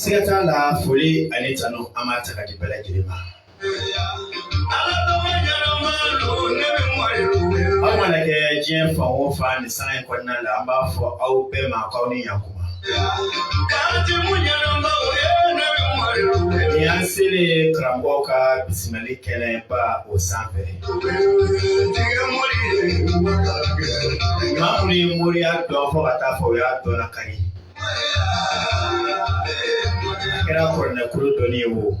siga t'a la foli ani tanu an b'a ta k'a di bɛɛ lajɛlen ma. aw mana kɛ diɲɛ fan o fan nin sanga in kɔnɔna la an b'a fɔ aw bɛɛ ma k'aw ni yaku. Ni an selen karamɔgɔ ka bisimilali kɛnɛba o sanfɛ maa minnu ye moriya dɔn fo ka taa fɔ o y'a dɔn ka ɲɛ a kɛra kuranɛ kulu dɔnni ye o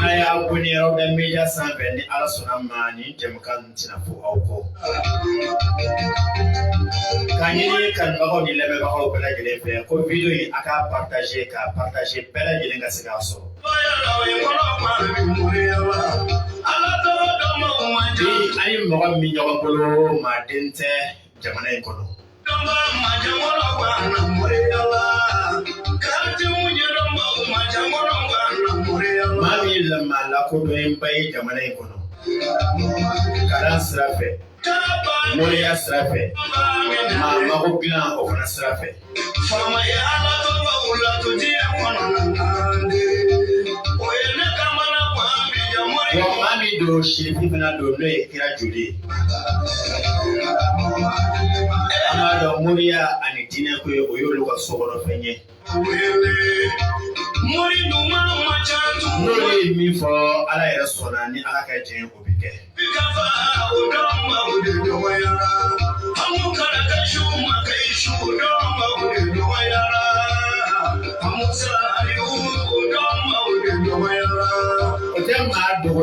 n'a y'a wele yɔrɔ bɛ media sanfɛ ni ala sɔnna ma nin jɛmukan in tɛna fɔ aw kɔ k'a ɲini kanubagaw ni lamɛnbagaw bɛɛ lajɛlen fɛ ko video in aw k'a partage k'a partage bɛɛ lajɛlen ka se k'a sɔrɔ bi an ni mɔgɔ min ɲɔgɔn bolo maaden tɛ jamana in kɔnɔ. maa min ye maa lakodɔnnenba ye jamana in kɔnɔ kalan sira fɛ moriya sira fɛ maa mago dilan o fana sira fɛ don sirifu fana don n'o ye kira joli ye an b'a dɔn moriya ani diinɛ ko in o y'olu ka so kɔnɔ fɛn ye n'olu ye min fɔ ala yɛrɛ sɔnna ni ala ka diɲɛ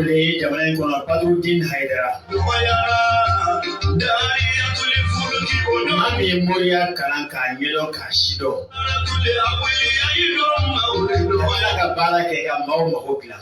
wele jamana in kɔnɔ badurudin hayidara maa min ye moriya kalan k'a ɲɛdɔn k'a sidɔn ka tila ka baara kɛ ka maaw mago dilan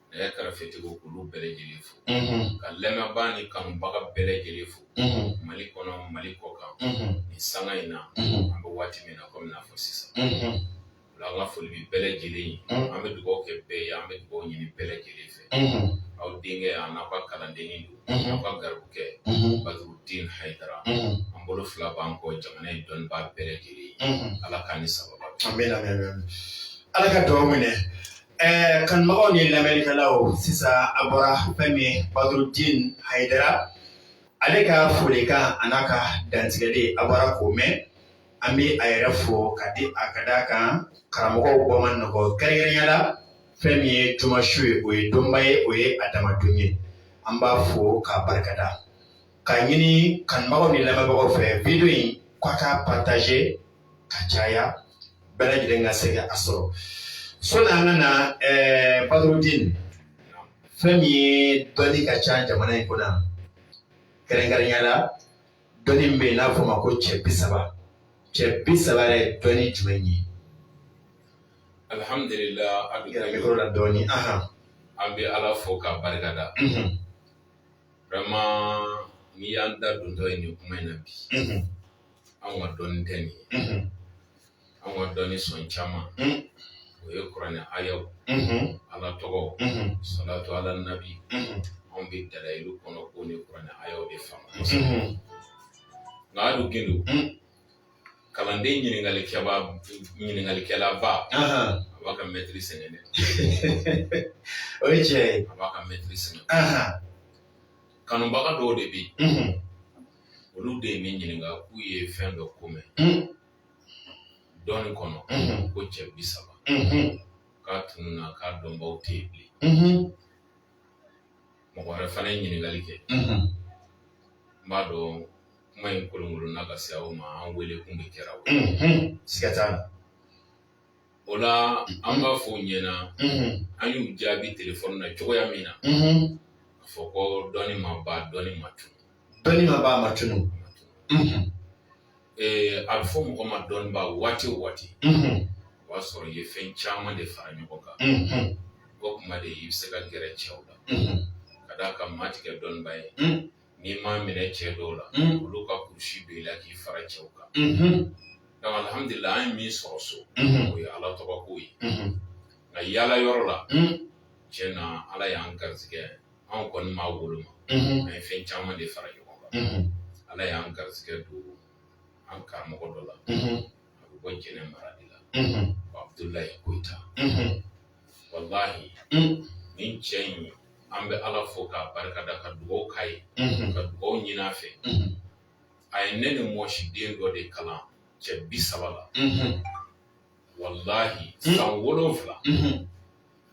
ne ye kɛrɛfɛtigiw k'olu bɛɛ lajɛlen fo ka lamɛnbaa ni kanubaga bɛɛ lajɛlen fo mali kɔnɔ mali kɔkan nin sanga in na an bɛ waati min na kɔmi n'a fɔ sisan ola an ka foli bɛ bɛɛ lajɛlen ye an bɛ dugawu kɛ bɛɛ ye an bɛ dugawu ɲini bɛɛ lajɛlen fɛ aw denkɛ a n'aw ka kalandennin don aw ka garibukɛ badurudin hayidara an bolo fila b'an kɔ jamana in dɔnnibaa bɛɛ lajɛlen ye ala k'an ni sababu bɛn amiina ala ka dugawu minɛ Ɛɛ kanubagaw ni lamɛnlikɛlaw sisan a bɔra fɛn min Badrudin Haidara ale ka folikan a n'a ka dantigɛli a bɔra k'o mɛn an bɛ a yɛrɛ fo ka di a ka d'a kan karamɔgɔw bɔ man nɔgɔ kɛrɛnkɛrɛnya la fɛn min ye juma su ye o ye donba ye o ye a dama don ye an b'a fo k'a barikada k'a ɲini kanubagaw ni lamɛnbagaw fɛ video in k'a k'a partager ka caya bɛɛ lajɛlen ka se k'a sɔrɔ sɔni an ka na ɛɛ Badrudin fɛn min ye dɔnni ka ca jamana in kɔnɔ kɛrɛnkɛrɛnya la dɔnni min bɛ yen n'a fɔ ma ko cɛ bi saba cɛ bi saba yɛrɛ dɔnni jumɛn ye alihamdulilah a bɛ gɛrɛ mikoro la dɔɔni ahan an bɛ ala fo k'a barika da vraiment n'i y'an da dontɔ ye nin kuma in na bi anw ka dɔnni tɛ nin ye anw ka dɔnni sɔn caman o ye kuranɛ ayaw ala tɔgɔ salatu ala nabi anw bɛ dalayilu kɔnɔ ko ni kuranɛ ayaw de faamu nka hali gindo kalanden ɲininkalikɛba ɲininkalikɛlaba a b'a ka mɛtiri sɛgɛn dɛ o ye tiɲɛ ye a b'a ka mɛtiri sɛgɛn kanubaga dɔw de bɛ yen olu de ye ne ɲininka k'u ye fɛn dɔ ko mɛn dɔnni kɔnɔ ko cɛ bi saba k'a tununa k'a dɔnbaw tɛ yen bilen mɔgɔ wɛrɛ fana ye ɲininkali kɛ n b'a dɔn kuma in kolonkolonna ka se aw ma an wele kun de kɛra o ye siga t'a la O la an b'a fɔ u ɲɛna an y'u jaabi telefɔni na cogoya min na a fɔ ko dɔnni ma ban dɔnni ma tunun dɔnni ma ban a ma tunun ɛɛ a bɛ fɔ mɔgɔ ma dɔnniba waati o waati o y'a sɔrɔ i ye fɛn caman de fara ɲɔgɔn kan o tuma de i bɛ se ka gɛrɛ cɛw la ka d'a kan maa tɛ kɛ dɔnniba ye n'i m'a minɛ cɛ dɔw la olu ka kulusi don i la k'i fara cɛw kan donc alihamdulila an ye min sɔrɔ so o ye ala tɔgɔ ko ye nka yaala yɔrɔ la tiɲɛ na ala y'an garisɛgɛ anw kɔni m'a woloma an ye fɛn caman de fara ɲɔgɔn kan ala y'an garisɛgɛ don an karamɔgɔ dɔ la a bɛ bɔ Jɛnɛ mara de la Abdulayi Koyita walahi nin cɛ in an bɛ ala fo k'a barika da ka dugawu k'a ye ka dugawu ɲini a fɛ a ye ne ni mɔsi den dɔ de kalan cɛ bi saba la walahi san wolonwula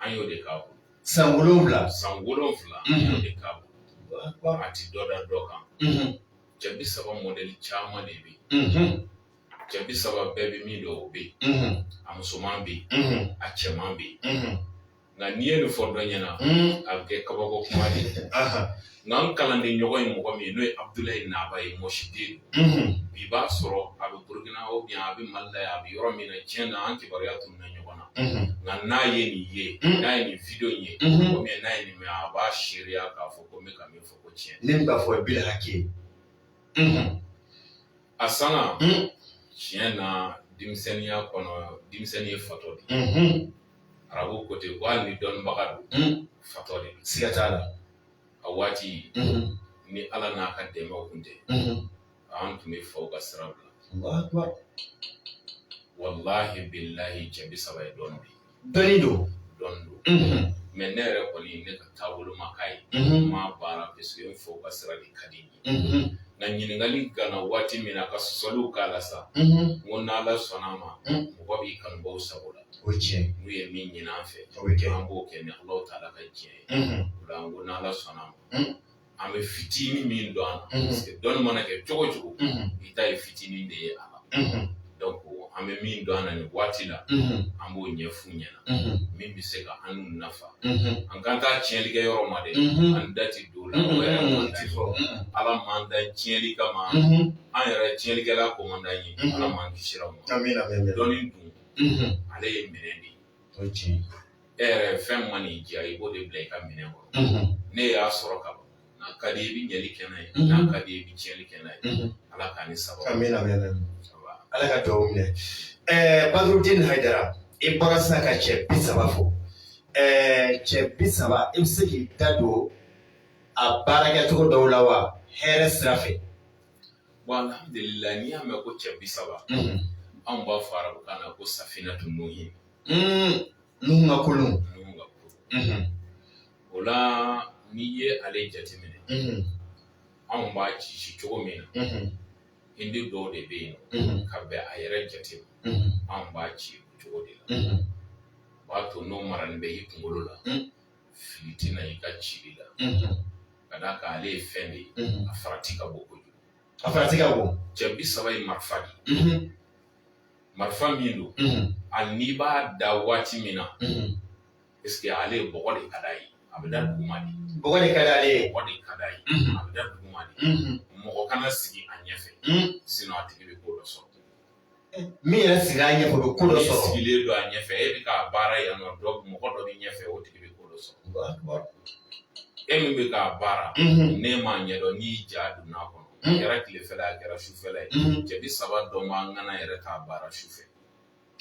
an y'o de k'a bolo san wolonwula san wolonwula an y'o de k'a bolo a ti dɔ da dɔ kan cɛ bi saba mɔdɛli caman de bɛ yen cɛ bi saba bɛɛ bɛ min dɔn o bɛ yen a musoman bɛ yen a cɛman bɛ yen nka n'i ye nin fɔ dɔ ɲɛna a bɛ kɛ kabako kuma de ye nka n kalanden ɲɔgɔn ye mɔgɔ min ye n'o ye Abudulayi Naba ye mɔsiden don bi b'a sɔrɔ a bɛ Burukina oubien a bɛ Mali la yan a bɛ yɔrɔ min na tiɲɛ na an kibaruya tununna ɲɔgɔn na nka n'a ye nin ye n'a ye nin video in ye oubien n'a ye nin mɛn a b'a seereya k'a fɔ ko n bɛ ka min fɔ ko tiɲɛ don ne bɛ ka fɔ ye bilahaki ye. a sanga tiɲɛ na denmisɛnninya kɔnɔ denmisɛnnin ye fatɔ de ye arabu ko ten ko hali ni dɔnnibaga don fatɔ de don siga t'a la a waati ni ala n'a ka dɛmɛw kun tɛ an tun bɛ faw ka sira bila walahi bilahi cɛ bi saba ye dɔnni bi dɔnni don dɔnni don mm-hmm. mais ne yɛrɛ kɔni ne ka taabolo ma k'a ye mm-hmm. n m'a baara parce que n faw ka sira de ka di n ye mm-hmm. nka ɲininkali ganna waati min na ka sɔsɔliw k'a la sa n ko n'ala sɔnna a ma mm. mɔgɔ b'i kanubaw sago la o tiɲɛ n'u ye min ɲini an fɛ an b'o kɛ ni alahu taala ka diɲɛ ye o la n ko n'ala sɔnna a ma mm. an bɛ fitinin min dɔn an na parce que dɔnni mana kɛ cogo o cogo i ta ye fitinin de ye a la donc an bɛ min dɔn an na nin waati la an b'o ɲɛf'u ɲɛna min bɛ se ka an n'u nafa an kana taa tiɲɛli kɛ yɔrɔ ma dɛ an da tɛ don o la o yɛrɛ man di fɔ ala m'an da tiɲɛli kama an yɛrɛ tiɲɛlikɛla ko man d'an ye ala m'an kisira a ma dɔnni dun ale ye minɛn de ye e yɛrɛ fɛn man'i diya i b'o de bila i ka minɛn kɔnɔ ne y'a sɔrɔ ka ban n'a ka di i bɛ ɲɛli kɛ n'a ye n'a ka di i bɛ tiɲɛli kɛ n'a ye ala k'a ni saba ka mɛn lamɛn ala ka dugawu minɛ ɛɛ Badurudini Hayidara i bɔra sisan ka cɛ bi saba fɔ ɛɛ cɛ bi saba i bɛ se k'i da don a baarakɛcogo dɔw la wa hɛrɛ sira fɛ bon alhamdulilayi n'i y'a mɛn ko cɛ bi saba anw b'a fɔ arabukan na ko safinatu nuhin Mm, Nuhu ka kulun. Nuhu ka kulun. Mm-hmm. O la n'i ye ale jateminɛ. Mm-hmm. Anw b'a ci ci cogo min na. Mm-hmm. Hindi dɔw de bɛ yen nɔ. Ka bɛn a yɛrɛ jate ma. Anw b'a ci o cogo de la. O b'a to n'o marani bɛ i kunkolo la. Mm. Fili tɛ na i ka cili la. Ka d'a kan ale ye fɛn de ye. A farati ka bon kojugu. A farati ka bon. Cɛ bi saba ye marifa de ye. marifa min don hali n'i b'a da waati min na parce que ale bɔgɔ de ka d'a ye a bɛ da duguma de bɔgɔ de ka d'ale ye bɔgɔ de ka d'a ye a bɛ da duguma de mɔgɔ kana sigi a ɲɛ fɛ sinon a tigi bɛ ko dɔ sɔrɔ min yɛrɛ sigila a ɲɛfɛ o bɛ ko dɔ sɔrɔ sigilen don a ɲɛfɛ e bɛ k'a baara yan nɔ dɔ mɔgɔ dɔ bɛ ɲɛfɛ o tigi bɛ ko dɔ sɔrɔ e min bɛ k'a baara ne m'a ɲɛdɔn n'i ja donna a kɔnɔ a kɛra tilefɛla ye a kɛra sufɛla ye cɛ bi saba dɔ man kan yɛrɛ k'a baara sufɛ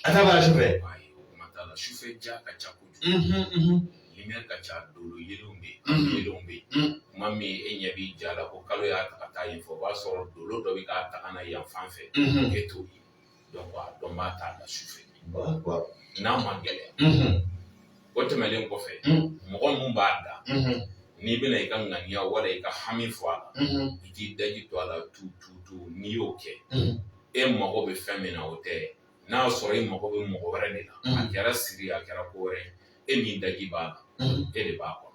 a t'a baara sufɛ ayi o kuma t'a la sufɛ ja ka ca kojugu lumière ka ca dolo yelenw bɛ yen yelenw bɛ yen kuma min e ɲɛ b'i ja la ko kalo y'a ta ka taa yen fɛ o b'a sɔrɔ dolo dɔ bɛ k'a ta ka na yan fan fɛ e t'o ye a dɔnbaa t'a da su fɛ n'a ma gɛlɛya o tɛmɛnlen kɔfɛ mɔgɔ minnu b'a da n'i bɛna i ka ŋaniya wala i ka hami fɔ a la i t'i daji to a la tu tu tu n'i y'o kɛ e mago bɛ fɛn min na o tɛna sɔrɔ e mago bɛ mɔgɔ wɛrɛ de la a kɛra siri a kɛra ko wɛrɛ e min daji b'a la e de b'a kɔnɔ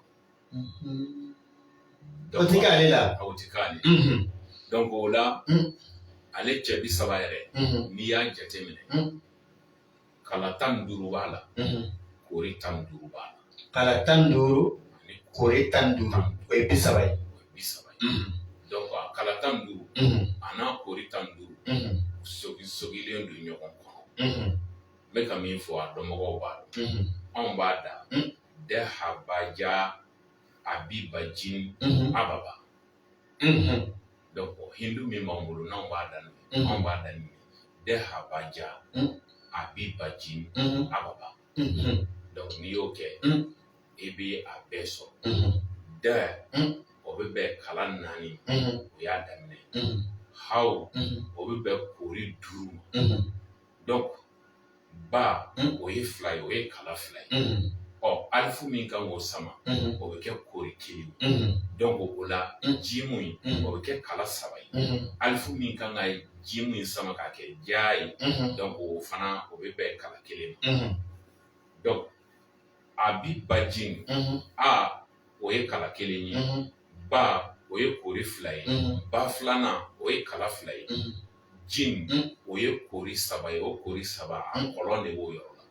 o ti k'ale la a o ti k'ale donc o la ale cɛ bi saba yɛrɛ n'i y'a jate minɛ kala tan ni duuru b'a la kori tan ni duuru b'a la kala tan ni duuru kori tan ni duuru o ye bi saba ye o ye bi saba ye donc a kala tan ni duuru a n'a kori tan ni duuru sogi sogilen don ɲɔgɔn kɔnɔ n bɛ ka min fɔ a dɔnbagaw b'a dɔn anw b'a da dɛ habaja a bi bajin mhm. ababa mhm. donc hindu min b'an bolo n'anw b'a daminɛ mhm. anw b'a daminɛ dɛ habaja a bi bajin ababa donc n'i y'o kɛ i bɛ a bɛɛ sɔrɔ dɛ o bɛ bɛn kala naani o y'a daminɛ haw o bɛ bɛn kori duuru ma donc ba o ye fila ye o ye kala fila ye ɔ alifu min kan k'o sama o bɛ kɛ kori kelen donc o la jimu in o bɛ kɛ kala saba ye alifu min kan ka jimu in sama k'a kɛ ja ye donc o fana o bɛ bɛn kala kelen ma donc a bi bajin a o ye kala kelen ye ba o ye kori fila ye ba filanan o ye kala fila ye jin o ye kori saba ye o kori saba a kɔlɔn de b'o yɔrɔ la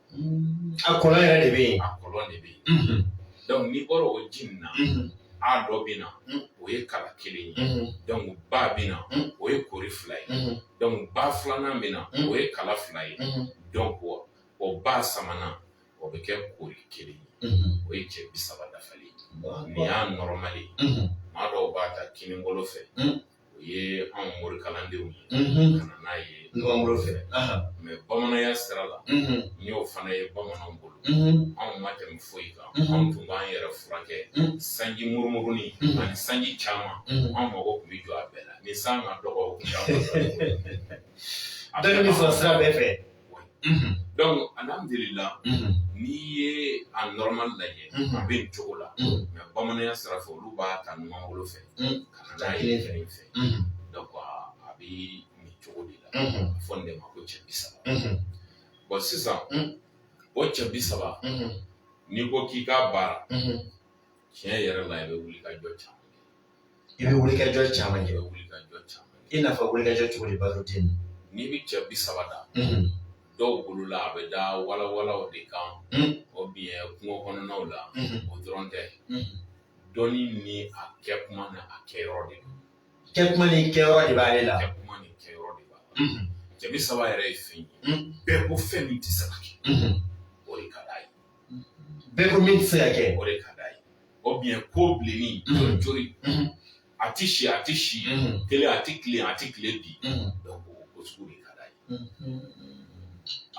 a kɔlɔn yɛrɛ de bɛ yen a kɔlɔn de bɛ yen donc n'i bɔra o jin na a dɔ bɛ na o ye kala kelen ye donc ba bɛ na o ye kori fila ye donc ba filanan bɛ na o ye kala fila ye donc o ba sabanan o bɛ kɛ kori kelen ye o ye cɛ bi saba dafali nin y'a normal ye maa dɔw b'a ta kinibolo fɛ o ye an morikalandenw ye ka n'a ye numanbolo fɛ mais bamananya sira la n y'o fana ye bamananw bolo anw ma tɛmɛ foyi kan anw tun b'an yɛrɛ furakɛ sanji murumurunin ani sanji caman an mago tun bɛ jɔ a bɛɛ la ni san ka dɔgɔ a bɛɛ sira bɛɛ fɛ Mm-hmm. Donc alhamdulila mm-hmm. n'i ye a normal lajɛ mm-hmm. a bɛ nin cogo la mais bamananya sira fɛ olu b'a ta numan bolo fɛ ka na n'a ye kinin fɛ donc a bɛ nin cogo de la a fɔ nin de ma ko cɛ bi saba bon sisan o cɛ bi saba n'i ko k'i k'a baara tiɲɛ yɛrɛ la i bɛ wuli ka jɔ caman I bɛ wuli ka jɔ caman kɛ. I bɛ wuli ka jɔ caman kɛ. I n'a fɔ wuli ka jɔ cogo di Badrudine. N'i bɛ cɛ bi saba da. Unhun. Dɔw bolo la a bɛ da walawalaw de kan. Un. Ou bien kungo kɔnɔnaw la. Unhun. O dɔrɔn tɛ. Unhun. Dɔnni ni a kɛ kuma ni a kɛ yɔrɔ de don. Kɛ kuma ni kɛ yɔrɔ de b'ale la. Kɛ kuma ni kɛ yɔrɔ de b'a la. Unhun. Cɛ bi saba yɛrɛ ye fɛn ye. Un. Bɛɛ ko fɛn min tɛ se ka kɛ. Unhun. O de ka d'a ye. bɛɛ ko min tɛ se ka kɛ o de ka d'a ye ou bien ko bilenni joli joli a ti si a ti si kelen a ti kile a ti kile bi donc o sugu de ka d'a ye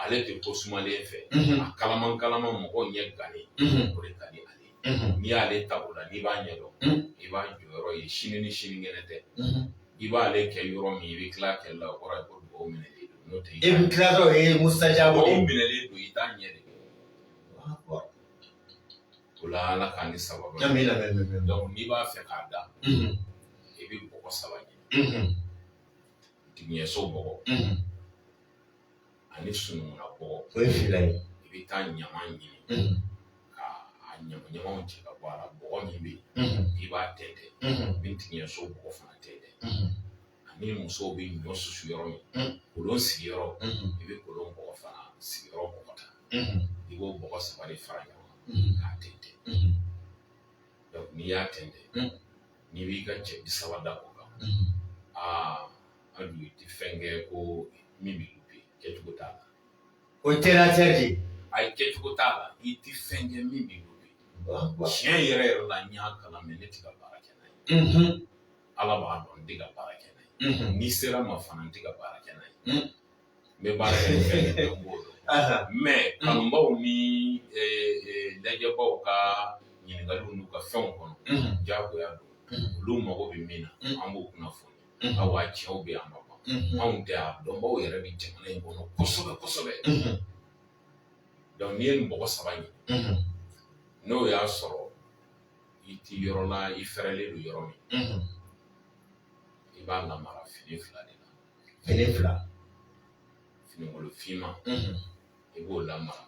ale tɛ ko sumalen fɛ a kalaman kalaman mɔgɔw ɲɛ gannen o de ka di ale ye n'i y'ale ta o la n'i b'a ɲɛdɔn i b'a jɔyɔrɔ ye sini ni sinikɛnɛ tɛ i b'ale kɛ yɔrɔ min i bɛ tila kɛli la o kɔrɔ ye ko dugawu minɛlen don n'o tɛ i bɛ tila dɔrɔn o ye musajabu minɛlen don i t'a ye de o la ala k'an ni sababu n'i b'a fɛ k'a da i bɛ bɔgɔ saba ɲini tigiɲɛso bɔgɔ ani sunungunna bɔgɔ o ye fila ye i bɛ taa ɲama ɲini ka a ɲamaɲamaw cɛ ka bɔ a la bɔgɔ min bɛ yen i b'a tɛntɛn i bɛ tigiɲɛso bɔgɔ fana tɛntɛn ani musow bɛ ɲɔ susu yɔrɔ min kolon sigiyɔrɔ i bɛ kolon bɔgɔ fana sigiyɔrɔ bɔgɔ ta i b'o bɔgɔ saba de fara ɲɔgɔn kan k'a tɛntɛn n'i y'a tɛntɛn n'i b'i ka cɛ bi saba da o kan aa a dun i tɛ fɛn kɛ ko min bɛ lupe kɛcogo t'a la o ye tɛnɛtɛ de ye ayi kɛcogo t'a la i tɛ fɛn kɛ min bɛ lupe tiɲɛ yɛrɛ yɛrɛ la n y'a kalan mais ne tɛ ka baara kɛ n'a ye ala b'a dɔn n tɛ ka baara kɛ n'a ye n'i sera ma fana n tɛ ka baara kɛ n'a ye n bɛ baara kɛ ni fɛn min ye n b'o dɔn mais kanubaw ni lajɛbaw ka ɲininkaliw n'u ka fɛnw kɔnɔ diyagoya don olu mago bɛ min na an b'o kunnafoni awa cɛw bɛ yan a ma ban anw tɛ a dɔnbaw yɛrɛ bɛ jamana in kɔnɔ kosɛbɛ kosɛbɛ donc n'i ye nin bɔgɔ saba ɲini n'o y'a sɔrɔ i t'i yɔrɔ la i fɛrɛlen don yɔrɔ min i b'a lamara fini fila de la fini fila finikolon finman i b'o lamara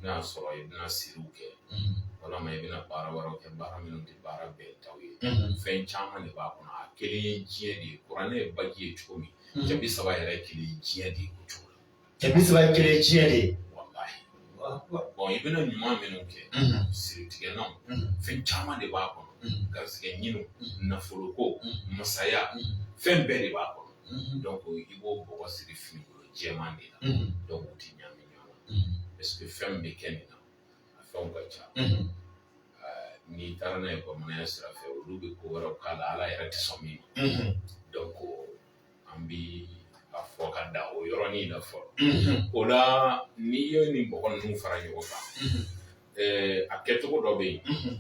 n'a y'a sɔrɔ i bɛna siriw kɛ walima i bɛna baara wɛrɛw kɛ baara minnu tɛ baara bɛɛ taw ye fɛn caman de b'a kɔnɔ a kelen ye diɲɛ de ye kuranɛ ye baji ye cogo min cɛ bi saba yɛrɛ kelen ye diɲɛ de ye o cogo la cɛ bi saba kelen ye diɲɛ de ye i bɛna ɲuman minnu kɛ siritigɛlanw fɛn caman de b'a kɔnɔ garisigɛ ɲiniw nafoloko masaya fɛn bɛɛ de b'a kɔnɔ i b'o bɔgɔ siri fini jɛman de la donc u ti ɲami ɲɔgɔn na parce que fɛn bɛ kɛ nin na a fɛnw ka ca n'i taara n'a ye bamananya sira fɛ olu bɛ ko wɛrɛw k'a la ala yɛrɛ tɛ sɔn min ma donc an bi a fɔ ka da o yɔrɔnin na fɔlɔ o la n'i ye nin bɔgɔ ninnu fara ɲɔgɔn kan a kɛcogo dɔ bɛ yen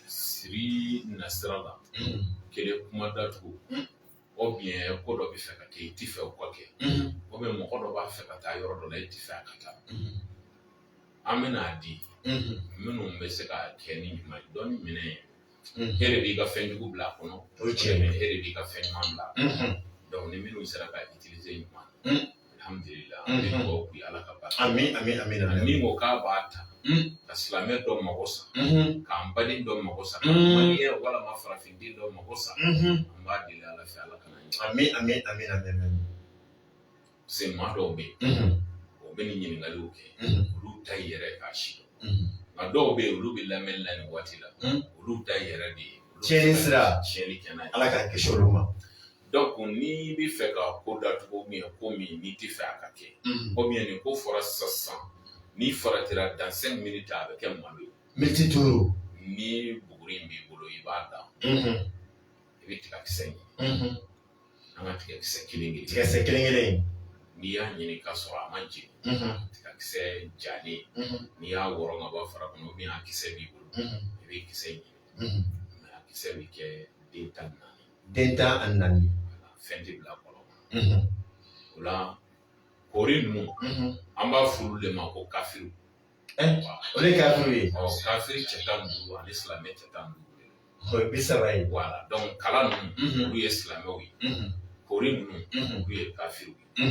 siri nasira la kelen kuma datugu ou bien ko dɔ bɛ fɛ ka kɛ i tɛ fɛ o ka kɛ ou bien mɔgɔ dɔ b'a fɛ ka taa yɔrɔ dɔ la i tɛ fɛ a ka taa an bɛna a di minnu bɛ se ka kɛ ni ɲuman ye dɔnni minɛn ye e de b'i ka fɛn jugu bila a kɔnɔ o cɛ e de b'i ka fɛn ɲuman bila donc ni minnu sera ka utiliser ɲuman min ko k'a b'a ta ka silamɛ dɔ mago sa k'an baden dɔ mago sa ye walima farafin den dɔ mago sa an b'a deli ala fɛ ala kana ɲɛ parce que maa dɔw bɛ yen o bɛ nin ɲininkaliw kɛ olu ta yɛrɛ k'a sidɔn nka dɔw bɛ yen olu bɛ lamɛnni la nin waati la olu ta yɛrɛ de ye tiɲɛni sira tiɲɛni kɛ n'a ye ala k'an kisi olu ma donc n'i bɛ fɛ ka ko datugu ou bien ko min n'i tɛ fɛ a ka kɛ ou bien nin ko fɔra sisan sisan n'i faratira dans 5 minutes a bɛ kɛ malo ye miniti duuru ni buguri in b'i bolo i b'a da i bɛ tigakisɛ ɲini an ka tigakisɛ kelen kelen tigakisɛ kelen kelen n'i y'a ɲini k'a sɔrɔ a ma jeni tigakisɛ jalen n'i y'a wɔrɔ ka bɔ fara kɔnɔ ou bien a kisɛ b'i bolo i bɛ kisɛ ɲini mais a kisɛ bɛ kɛ den tan ni naani den tan ani naani fɛn tɛ bila kɔlɔn kɔnɔ o la kori ninnu an b'a f'olu de ma ko kafiri o de kafiri ye kafiri cɛ tan ni duuru ani silamɛ cɛ tan ni duuru o ye bi saba ye voilà kala ninnu olu ye silamɛw ye kori ninnu olu ye kafiriw ye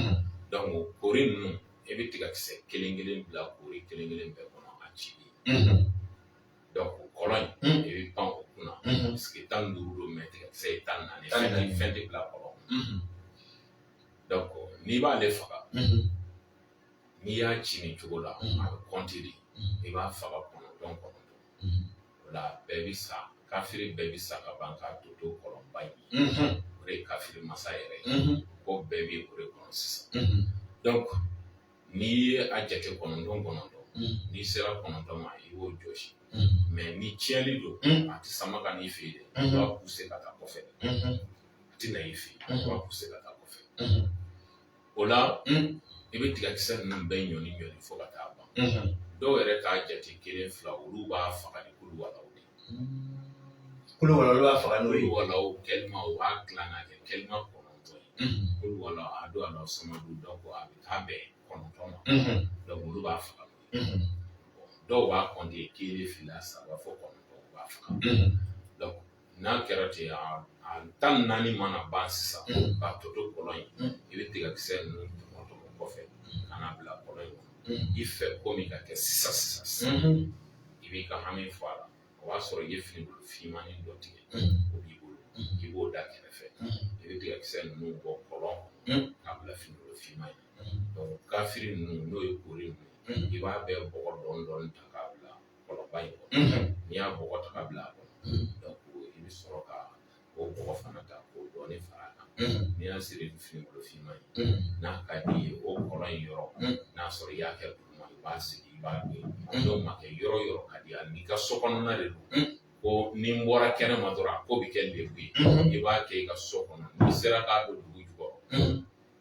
donc kori ninnu i bɛ tigakisɛ kelen kelen bila kori kelen kelen bɛɛ kɔnɔ a ci kɔlɔn in i bɛ pan o kunna parce que tan ni duuru don mais tigakisɛ ye tan ni naani fɛn tɛ bila kɔlɔn donc n'i b'ale faga n'i y'a ci nin cogo la a bɛ kɔnti de i b'a faga kɔnɔntɔn kɔnɔntɔn o la bɛɛ bɛ sa kafiri bɛɛ bɛ sa ka ban k'a tɔ to kɔlɔnba in o de ye kafiri masa yɛrɛ ye ko bɛɛ bɛ o de kɔnɔ sisan n'i ye a jate kɔnɔntɔn kɔnɔntɔn n'i sera kɔnɔntɔn ma i b'o jɔsi mɛ ni tiɲɛli don a tɛ sama ka n'i fɛ yen dɛ i b'a puse ka taa kɔfɛ a tɛ na i fɛ yen i b'a puse ka taa kɔfɛ o la i bɛ tigakisɛ ninnu bɛɛ ɲɔni ɲɔni fo ka taa ban dɔw yɛrɛ t'a jate kelen fila olu b'a faga ni kuluwalahu de kuluwala olu b'a faga n'o ye walahu kɛlima o b'a dilan ka kɛ kɛlima kɔnɔntɔn ye kuluwala ahadun ala samadun dɔnku a bɛ taa bɛn kɔnɔntɔn ma dɔnku olu b'a faga dɔw b'a kɔnte kelen fila saba fo kɔnɔntɔn u b'a faga dɔnku n'a kɛra ten a tan naani mana ban sisan k'a tɔ to kɔlɔn in i bɛ tigakisɛ ninnu tɔmɔ tɔmɔ kɔfɛ ka n'a bila kɔlɔn in kɔnɔ i fɛ ko min ka kɛ sisan sisan sisan i b'i ka hami fɔ a la o b'a sɔrɔ i ye finibolo finmani dɔ tigɛ o b'i bolo i b'o da kɛrɛfɛ i bɛ tigakisɛ ninnu bɔ kɔlɔn k'a bila finibolo finman in kafiri ninnu n'o ye kori ninnu i b'a bɛɛ bɔgɔ dɔɔni dɔɔni ta k'a bila kɔlɔnba in kɔnɔ n'i y'a bɔgɔ ta k'a bila a kɔnɔ i bɛ sɔrɔ ka o bɔgɔ fana ta k'o dɔɔnin fara a kan n'i y'a siri ni finibolo finman ye n'a ka d'i ye o kɔlɔn in yɔrɔ n'a sɔrɔ i y'a kɛ duguma i b'a sigi i b'a don n'o ma kɛ yɔrɔ yɔrɔ ka di hali n'i ka so kɔnɔna de don ko ni n bɔra kɛnɛ ma dɔrɔn a ko bɛ kɛ lebu ye i b'a kɛ i ka so kɔnɔ n'i sera k'a don dugu jukɔrɔ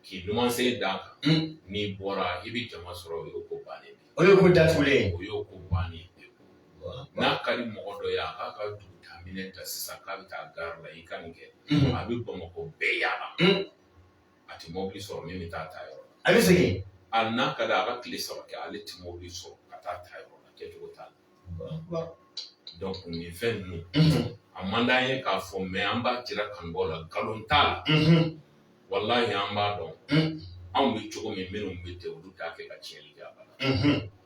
K'i numansen d'a kan, un, n'i bɔra i bɛ jama sɔrɔ o y'o ko bannen ye, o y'o ko datugulen ye, o y'o ko bannen ye pewu, Alahu akbar, n'a ka di mɔgɔ dɔ ye a k'a ka dugutaaminɛn ta sisan k'a bɛ taa gari la i ka nin kɛ, unhun, a bɛ Bamakɔ bɛɛ yaala, un, a tɛ mɔbili sɔrɔ min bɛ taa a ta yɔrɔ la, a bɛ segin, hali n'a ka d'a ye a ka tile saba kɛ ale tɛ mɔbili sɔrɔ ka taa a ta yɔrɔ la kɛcogo t'a la. donc nin fɛn ninnu a man d'an ye k'a fɔ mɛ an b'a jira kanubaaw la nkalon t'a la walahi an b'a dɔn anw bɛ cogo min minnu bɛ ten olu t'a kɛ ka tiɲɛli kɛ a la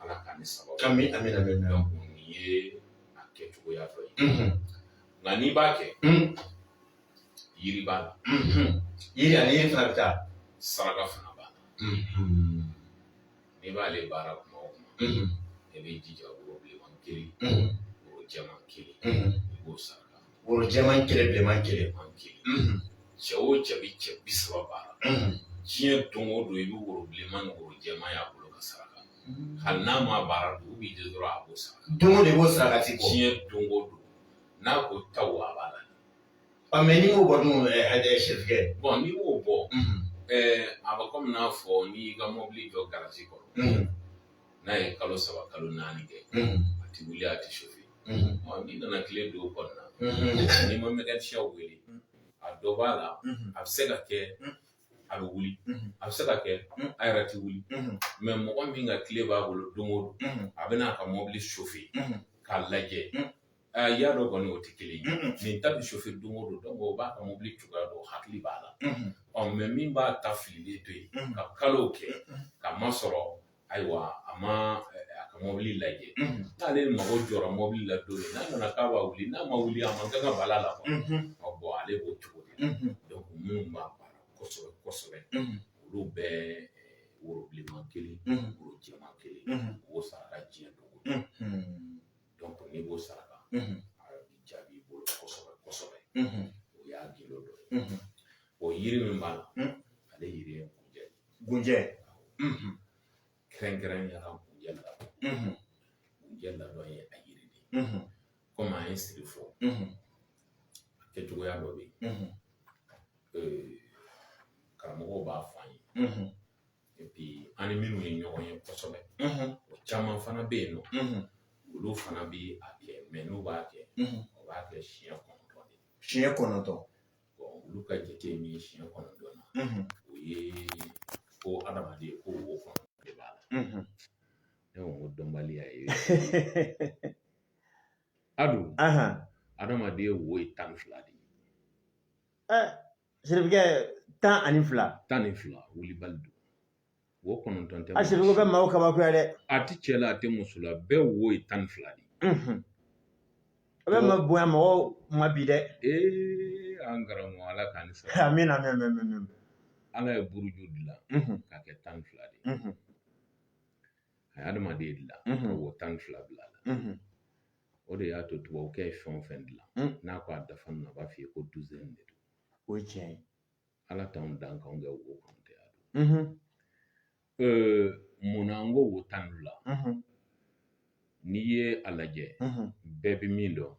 ala k'a ni sababu kami amina amina donc nin ye a kɛcogoya dɔ ye nka n'i b'a kɛ yiri b'a la yiri ani yiri fana bɛ taa saraka fana b'a la n'i b'ale baara kuma o kuma i b'i jija woro bilenman kelen woro jɛman kelen i b'o saraka woro jɛman kelen bilenman kelen man kelen cɛ o cɛ bɛ cɛ bi saba baara diɲɛ don o don i bɛ woro bilenman ni woro jɛman y'a bolo ka saraka hali n'a ma baara dugu bɛ jɛ dɔrɔn a b'o saraka don o don i b'o sarakati bɔ diɲɛ don o don n'a ko taw a b'a la Ɔ mɛ n'i y'o bɔ dun sɛkɛ bɔn n'i y'o bɔ a bɛ kɔmi n'a fɔ n'i ka mɔbili jɔ garazi kɔrɔ n'a ye kalo saba kalo naani kɛ a tɛ wuli a tɛ sofe n'i nana kile don kɔnɔna na n'i ma mekanisiyɛn wele a dɔ b'a la a bɛ se ka kɛ a bɛ wuli a bɛ se ka kɛ a yɛrɛ tɛ wuli mɛ mɔgɔ min ka kile b'a bolo don o don a bɛ n'a ka mɔbili sofe k'a lajɛ Aa i y'a dɔn kɔni o tɛ kelen ye nin ta bɛ sofe don o don o b'a ka mobili cogoya dɔn hakili b'a la ɔ mɛ min b'a ta fililen to yen ka kalo kɛ k'a masɔrɔ ayiwa a ma a ka mɔbili lajɛ n'ale mago jɔra mɔbili la don min n'a nana k'a b'a wuli n'a ma wuli a man kan ka bala la bɔn ale b'o cogo de dɔnku minnu b'a baara kosɛbɛ kosɛbɛ olu bɛ woro bilenman kelen woro jɛman kelen o saraka diɲɛ don n'i b'o saraka a bɛ jaabi i bolo kosɛbɛ kosɛbɛ o y'a gindo dɔ ye o yiri min b'a la ale yiri ye kunjɛ kɛrɛnkɛrɛnnenya la kunjɛ la kunjɛ ladɔn ye a yiri de ye komi an ye siri fɔ a kɛcogoya dɔ bɛ yen karamɔgɔw b'a fɔ an ye an ni minnu ye ɲɔgɔn ye kosɛbɛ o caman fana bɛ yen nɔ olu fana bɛ a kɛ mɛ n'u b'a kɛ o b'a kɛ siɲɛ kɔnɔntɔn de siɲɛ kɔnɔntɔn olu ka jate min ye siɲɛ kɔnɔntɔn na o ye ko adamaden ko wo kɔnɔntɔn de b'a la ne ko ko dɔnbaliya ye adu adamaden wo ye tan ni fila de ye Siribikɛ tan ani fila tan ni fila wulibali don wo kɔnɔntɔn tɛ a siriko bɛ maaw kabakoya dɛ a tɛ cɛ la a tɛ muso la bɛɛ wo ye tan ni fila de a bɛɛ ma bonya mɔgɔw ma bi dɛ ee an karamɔgɔ ala k'an ni sara amiina mɛ mɛ mɛ ala ye buruju dilan k'a kɛ tan ni fila de a ye adamaden dilan ka wo tan ni fila bila a la o de y'a to tubabukɛ ye fɛn o fɛn dilan n'a ko a dafa na a b'a f'i ye ko duzɛni de don o ye tiɲɛ ye ala t'anw dan k'anw kɛ wo kɔnɔntɔn ye a don mun na n ko wo tan ni fila n'i ye a lajɛ bɛɛ bɛ min dɔn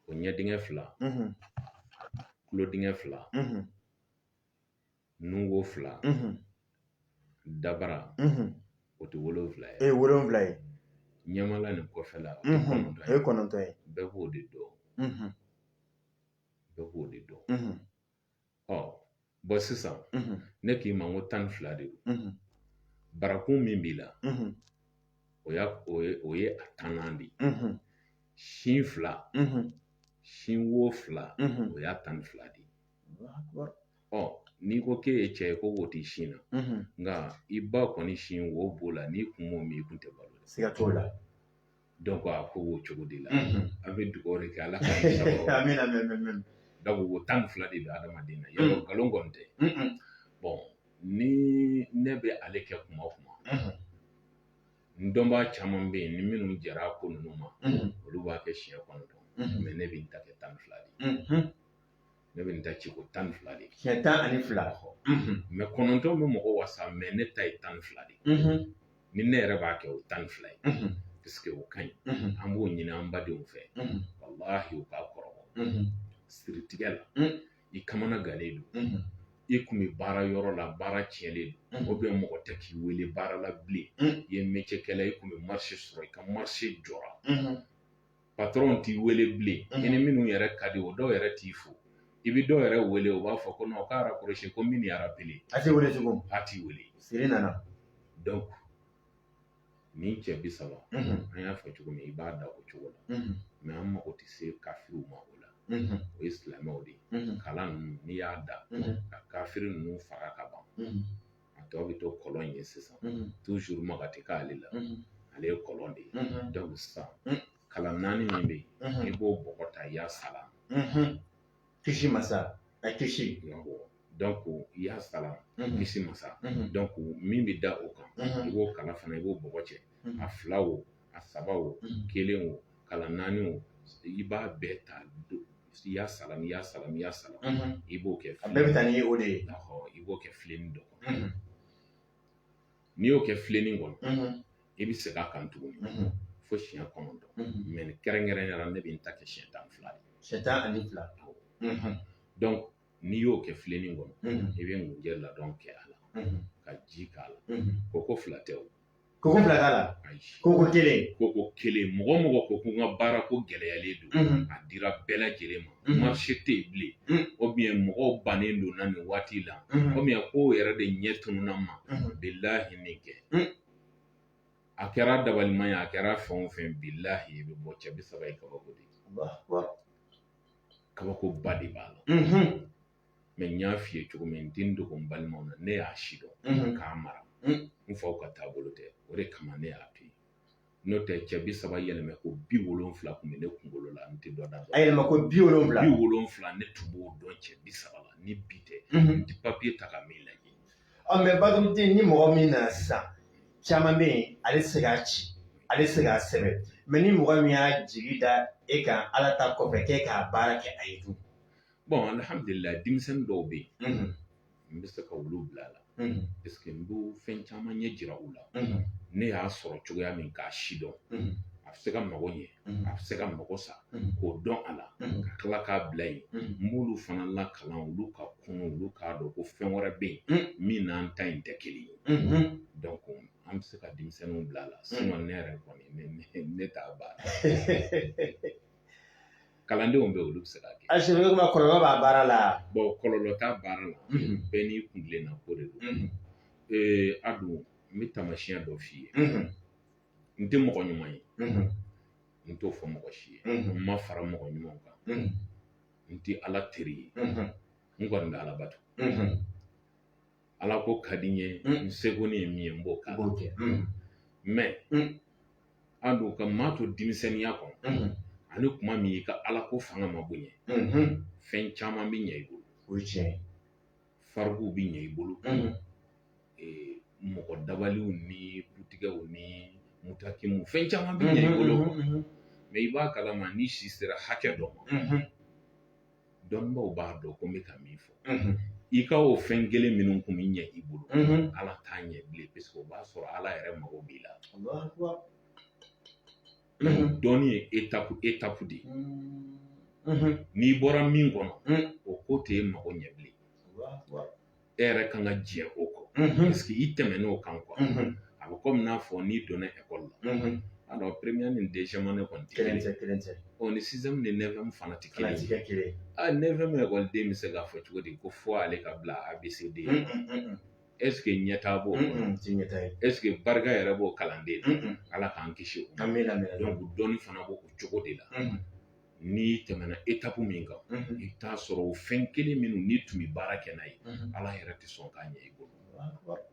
o ɲɛ dingɛ fila tulo dingɛ fila nun wo fila dabara o tɛ wolonwula ye e ye wolonwula ye ɲɛmala ni kɔfɛla o ye kɔnɔntɔn ye bɛɛ b'o de dɔn bɛɛ b'o de dɔn ɔ bon sisan ne k'i ma n ko tan ni fila de don barakun min b'i la o y'a o ye a tannan de ye sin fila sin wo fila o y'a tan ni fila de ye n'i ko k'e ye cɛ ye ko wo t'i sin na nka i ba kɔni sin wo b'o la n'i kun m'o min i kun tɛ balo siga t'o la donc a ko b'o cogo de la an bɛ dugawu de kɛ ala ka donc wo tan ni fila de bɛ adamaden na yɔrɔ nkalon kɔni tɛ bon ni ne bɛ ale kɛ kuma o kuma n dɔnbaa caman bɛ yen ni minnu jɛra ko ninnu ma olu b'a kɛ siɲɛ kɔnɔntɔn mais ne bɛ n ta kɛ tan ni fila de ye ne bɛ n ta ci ko tan ni fila de ye siɲɛ tan ani fila mais kɔnɔntɔn bɛ mɔgɔ wasa mais ne ta ye tan ni fila de ye ni ne yɛrɛ b'a kɛ o tan ni fila ye parce que o ka ɲi an b'o ɲini an badenw fɛ walahi u k'a kɔrɔbɔ siritigɛ la i kamana gannen don i kun bɛ baara yɔrɔ la baara tiɲɛlen don ou bien mɔgɔ tɛ k'i wele baara la bilen i ye métier kɛla i kun bɛ marché sɔrɔ i ka marché jɔra patron t'i wele bilen mhm. i ni minnu yɛrɛ ka di o dɔw yɛrɛ t'i fo i bɛ dɔw yɛrɛ wele u b'a fɔ ko non k'a raccroché ko min y'a rappelé a t'i wele tugun a t'i wele siri nana donc nin cɛ bi saba mhm. an y'a fɔ cogo min i b'a da o cogo la mhm. mais an mago tɛ se kafiriw ma o la o ye silamɛw de ye kalan ninnu n'i y'a da ka kafiri ninnu faga ka ban a tɔ bɛ to kɔlɔn in ye sisan toujours maga tɛ k'ale la ale ye kɔlɔn de ye donc sisan kalan naani min bɛ yen i b'o bɔgɔ ta ya salam kisi masa a kisi donc ya salam kisi masa donc min bɛ da o kan i b'o kalan fana i b'o bɔgɔ cɛ a fila o a saba o kelen o kalan naani o i b'a bɛɛ ta donc ya salam ya salam ya salam i b'o kɛ a bɛɛ bɛ taa ni o de ye i b'o kɛ filenin dɔ kɔnɔ n'i y'o kɛ filenin kɔnɔ i bɛ segin a kan tuguni fo siɲɛ kɔnɔntɔn mais ne kɛrɛnkɛrɛnnenya la ne bɛ n ta kɛ siɲɛ tan fila de ye siɲɛ tan ani fila donc n'i y'o kɛ filenin kɔnɔ i bɛ ngunjɛ ladɔn kɛ a la ka ji k'a la koko fila tɛ o Koko fila t'a la koko kelen koko kelen mɔgɔ mɔgɔ ko ko n ka baara ko gɛlɛyalen don a dira bɛɛ lajɛlen ma marché tɛ yen bilen ou bien mɔgɔw bannen don na nin waati la ou bien ko yɛrɛ de ɲɛ tununna ma bilahi nin kɛ a kɛra dabalima ye a kɛra fɛn o fɛn bilahi i bɛ bɔ cɛ bi saba ye kabako de ye kabako ba de b'a la mɛ n y'a f'i ye cogo min n tɛ n dogo n balimaw na ne y'a si dɔn mhm. k'a mara mhm. n faw ka taabolo tɛ o de kama ne y'a to yen n'o tɛ cɛ bi saba yɛlɛmɛ ko bi wolonfila kun bɛ ne kunkolo la n tɛ dɔ da a yɛlɛma ko bi wolonfila bi wolonfila ne tun b'o dɔn cɛ bi saba la ni bi tɛ mhm. n tɛ papiye ta ka min lajɛ ɔ mɛ batumute ni mɔgɔ min nana sisan caman bɛ yen ale tɛ se k'a ci ale tɛ se k'a sɛbɛn mɛ ni mɔgɔ min y'a jigi da e kan ala ta kɔfɛ k'e k'a baara kɛ a ye dun bɔn alihamdulila denmisɛnnin dɔw bɛ yen n bɛ se ka olu bila a la paseke n bɛ fɛn caman ɲɛ jira u la ne y'a sɔrɔ cogoya min k'a si dɔn a bɛ se ka mago ɲɛ a bɛ se ka mago sa k'o dɔn a la ka tila k'a bila yen n b'olu fana lakalan olu ka kunun olu k'a dɔn ko fɛn wɛrɛ bɛ yen min n'an ta in tɛ kelen ye dɔnku an bɛ se ka denmisɛnninw bila a la sinɔn ne yɛrɛ kɔni ne t'a baara kalandenw bɛ olu bɛ se k'a kɛ a sɛbɛ kuma kɔlɔlɔ b'a baara la bɔn kɔlɔlɔ t'a baara la bɛɛ n'i kuntilenna ko de don ee a dun n bɛ taamasiyɛn dɔ f'i ye n tɛ mɔgɔ ɲuman ye n t'o fɔ mɔgɔ si ye n ma fara mɔgɔ ɲuman kan n tɛ ala teri ye n kɔni bɛ ala bato ala ko ka di n ye n seko ni ye min ye n b'o k'a la mɛ a dun ka maa to denmisɛnninya kɔnɔ ani kuma min i ka ala ko fanga ma bonya fɛn caman bɛ ɲɛ i bolo o ye tiɲɛ ye farikow bɛ ɲɛ i bolo mɔgɔ dabaliw ni butigɛw ni mutakimu fɛn caman bɛ ɲɛ i bolo mɛ i b'a kalama ni si sera hakɛ dɔ ma dɔnnibaw b'a dɔn ko n bɛ ka min fɔ i ka o fɛn kelen minnu kun bɛ ɲɛ i bolo ala t'a ɲɛ bilen paseke o b'a sɔrɔ ala yɛrɛ mago b'i la dɔnni ye etapu etapu de ye n'i bɔra min kɔnɔ o ko t'e mago ɲɛ bilen e yɛrɛ kan ka jɛ o kɔ paseke i tɛmɛn'o kan kuwa a bɛ komi n'a fɔ n'i donna ekɔli la alɔri peremiyɛri ni deziyɛmu ane kɔni tɛ kelen ye ni siziyɛmu ni nefiyɛmu fana tɛ kelen ye nefiyɛmu ekɔliden bɛ se k'a fɔ cogo di ko fo ale ka bila a be se de ɛseke ɲɛtaa b'o ye ɛseke barika yɛrɛ b'o kalanden na ala k'an kisi o ma dɔnku dɔnni fana b'o cogo de la n'i tɛmɛna etapu min kan i bɛ t'a sɔrɔ o fɛn kelen minnu n'i tun bɛ baara kɛ n'a ye ala yɛrɛ tɛ sɔn k'a ɲɛ i bolo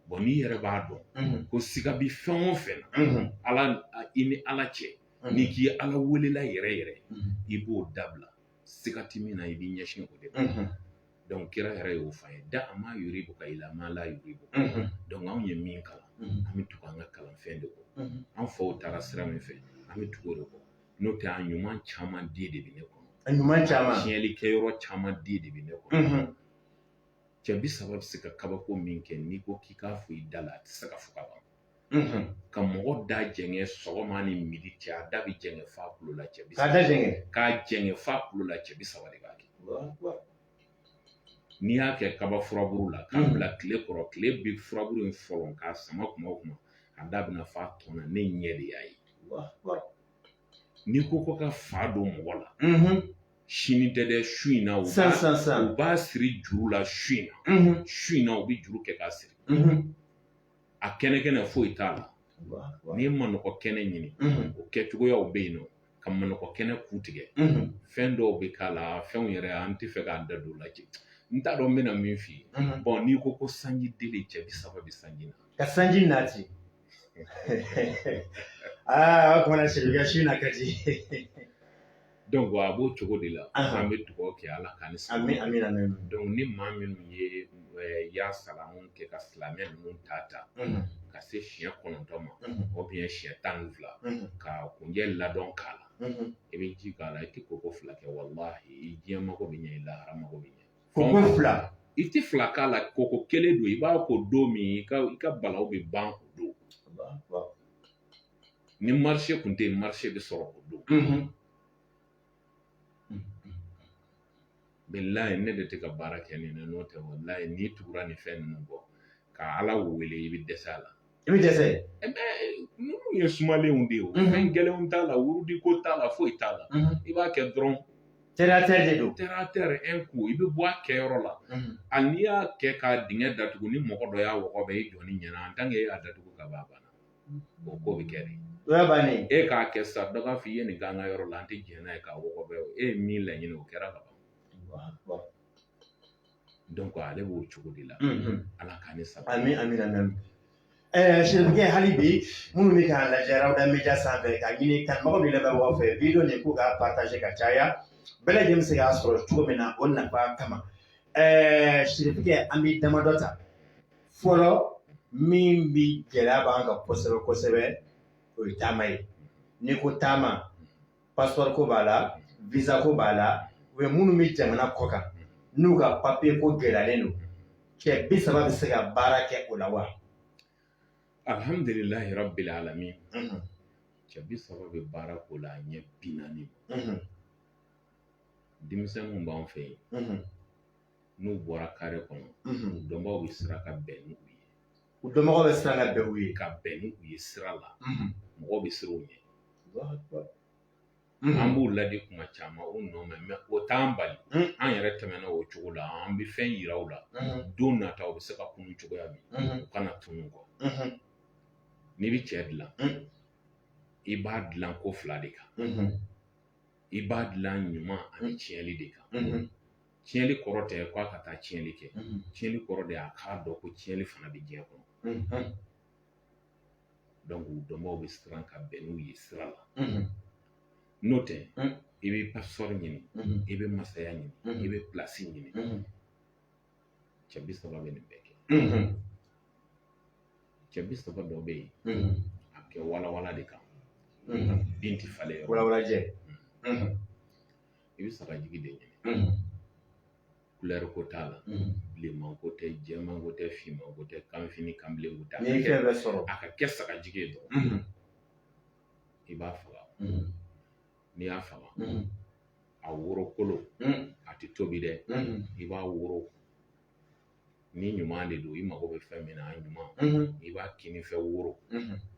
bɔn n'i yɛrɛ b'a dɔn ko siga bi fɛn o fɛn na ala i ni ala cɛ n'i k'i ala welela yɛrɛ yɛrɛ i b'o dabila siga tɛ min na i b'i ɲɛsin o de ma dɔnku kira yɛrɛ y'o fɔ an ye da ma yuribuka ila ma la yuribuka dɔnku anw ye min kalan an bɛ tugu an ka kalanfɛn de kɔ an faw taara sira min fɛ an bɛ tugu o de kɔ n'o tɛ a ɲuman caman di de bɛ ne kɔnɔ a ɲuman caman tiɲɛli kɛ yɔrɔ caman di de bɛ ne kɔnɔ cɛ bi saba bɛ se ka kabako min kɛ n'i ko k'i k'a fɔ i da la a tɛ se ka fɔ ka ban ka mɔgɔ da jɛngɛ sɔgɔma ni midi cɛ a da bi jɛngɛ f'a kulo la cɛ bi saba k'a da jɛngɛ k'a jɛngɛ f'a kulo la cɛ bi saba de b'a kɛ n'i y'a kɛ kaba furabulu la k'a bila tile kɔrɔ tile bɛ furabulu in fɔlɔ k'a sama kuma o kuma a da bɛ na f'a tɔn na ne ɲɛ de y'a ye n'i ko ko ka fa don mɔgɔ la sini tɛ dɛ su in na u b'a siri juru la su in na su in na u bɛ juru kɛ k'a siri a kɛnɛ kɛnɛ foyi t'a la n'i ye manɔgɔ kɛnɛ ɲini o kɛcogoyaw bɛ yen nɔ ka manɔgɔ kɛnɛ ku tigɛ fɛn dɔw bɛ k'a la fɛnw yɛrɛ an tɛ fɛ k'an da don o la ten n t'a dɔn n bɛna min f'i ye bon n'i ko ko sanji deli cɛ bi saba bi sanji na ka sanji nati aa o kumana sirikɛ si na ka di donc a b'o cogo de la an bɛ dugawu kɛ Ala k'an ni sababu bɛn amina donc ni maa minnu ye ya salamu kɛ ka silamɛ ninnu ta ta ka se siɲɛ kɔnɔntɔn ma ou bien siɲɛ tan ni fila ka kunjɛ ladon k'a la i bɛ ji k'a la i tɛ koko fila kɛ walahi i diɲɛ mago bɛ ɲɛ i lahara mago bɛ ɲɛ koko fila i tɛ fila k'a la koko kelen don i b'a ko don min i ka i ka balawu bɛ ban o don ni marché kun tɛ yen marché bɛ sɔrɔ o don bilahi ne de tɛ ka baara kɛ nin na n'o tɛ walahi n'i tugura nin fɛn ninnu kɔ ka ala wele i bɛ dɛsɛ a la i bɛ dɛsɛ ninnu ye sumalenw de ye o fɛn gɛlɛnw t'a la wurudi ko t'a la foyi t'a la i b'a kɛ dɔrɔn terre à terre de don terre à terre un coup i bɛ bɔ a kɛyɔrɔ la a n'i y'a kɛ ka dingɛ datugu ni mɔgɔ dɔ y'a wɔgɔbɛ i jɔ ni ɲɛna en tant que e y'a datugu ka ban o ko bɛ kɛ de o y'a bannen e k'a kɛ sa dɔ k'a fɔ i ye nin k'an ka yɔrɔ la an tɛ jɛn n'a ye k'a wɔgɔbɛ e ye min laɲini o kɛra ka ban ale b'o cogo de la ala k'an ni saba amina sirikɛ hali bi minnu bɛ k'an lajɛ Rawda Media sanfɛ k'a ɲini kanubagaw ni lamɛnbagaw fɛ vidéo nin k'u k'a partager ka caya bɛɛ lajɛlen bɛ se k'a sɔrɔ cogo min na o nafa kama ɛɛ sirikɛ an bɛ damadɔ ta fɔlɔ min bɛ gɛlɛya b'an kan kosɛbɛ kosɛbɛ o ye taama ye n'i ko taama passeport ko b'a la visa ko b'a la u ye minnu bɛ jamana kɔ kan n'u ka papier ko gɛlɛyalen don cɛ bi saba bɛ se ka baara kɛ o la wa. alhamdulilayi rabbil alamin mhm. cɛ bi saba bɛ baara ko la ɲɛ bi naani mhm. denmisɛnninw b'an fɛ yen mhm. n'u bɔra kare kɔnɔ u dɔnbaaw bɛ siran ka bɛn n'u ye u dɔnbagaw bɛ siran ka bɛn u ye ka bɛn n'u ye sira la mɔgɔw bɛ siran u ɲɛ an b'u ladi kuma caman u n'o mɛn mɛ o t'an bali an yɛrɛ tɛmɛna o cogo la an bɛ fɛn yira u la don nata u bɛ se ka kunun cogoya min u kana tunu kɔ n'i bɛ cɛ dilan i b'a dilan ko fila de kan i b'a dilan ɲuman ani tiɲɛli de kan tiɲɛli kɔrɔ tɛ k'a ka taa tiɲɛli kɛ tiɲɛli kɔrɔ de y'a k'a dɔn ko tiɲɛli fana bɛ diɲɛ kɔnɔ donc u dɔnbaaw bɛ siran ka bɛn n'u ye sira la n'o tɛ i bɛ pasipɔri ɲini i bɛ masaya ɲini i bɛ pilasi ɲini cɛ bi saba bɛ nin bɛɛ kɛ cɛ bi saba dɔ bɛ yen a bɛ kɛ walawala de kan bin tɛ falen yɔrɔ walawalajɛ i bɛ sagajigi de ɲini kulɛri ko t'a la bilenman ko tɛ jɛman ko tɛ finman ko tɛ kanfin ni kanbilen ko tɛ n'i ye fɛn bɛɛ sɔrɔ a ka kɛ sagajigi ye dɔrɔn i b'a faga n'i y'a faga a woro kolo a tɛ tobi dɛ i b'a woro ni ɲuman de don i mago bɛ fɛn min na a ɲuman i b'a kini fɛ woro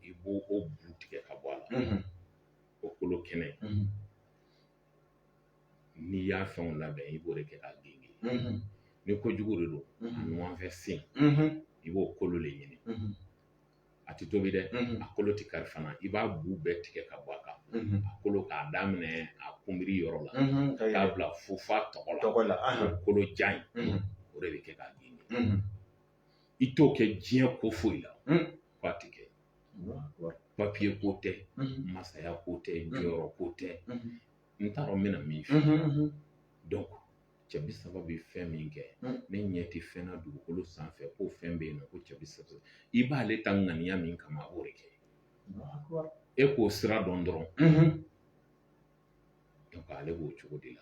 i b'o bu tigɛ ka bɔ a la o kolo kɛnɛ n'i y'a fɛnw labɛn i b'o de kɛ k'a genge ni kojugu de don a numan fɛ sen i b'o kolo de ɲini a tɛ tobi dɛ a kolo tɛ kari fana i b'a bu bɛɛ tigɛ ka bɔ a kan a kolo k'a daminɛ a kunbiri yɔrɔ la k'a bila fo f'a tɔgɔ la kolo jan in o de bɛ kɛ k'a genge i t'o kɛ diɲɛ ko foyi la hmm. k'a tɛ kɛ papiye ko tɛ hmm. masaya ko tɛ hmm. jɔyɔrɔ ko tɛ n t'a dɔn n bɛna min fɔ donc cɛ bi saba bɛ fɛn min kɛ ne ɲɛ tɛ fɛn na dugukolo sanfɛ ko fɛn bɛ yen nɔ ko cɛ bi saba i b'ale ta ŋaniya min kama a b'o de kɛ e k'o sira dɔn dɔrɔn ale b'o cogo de la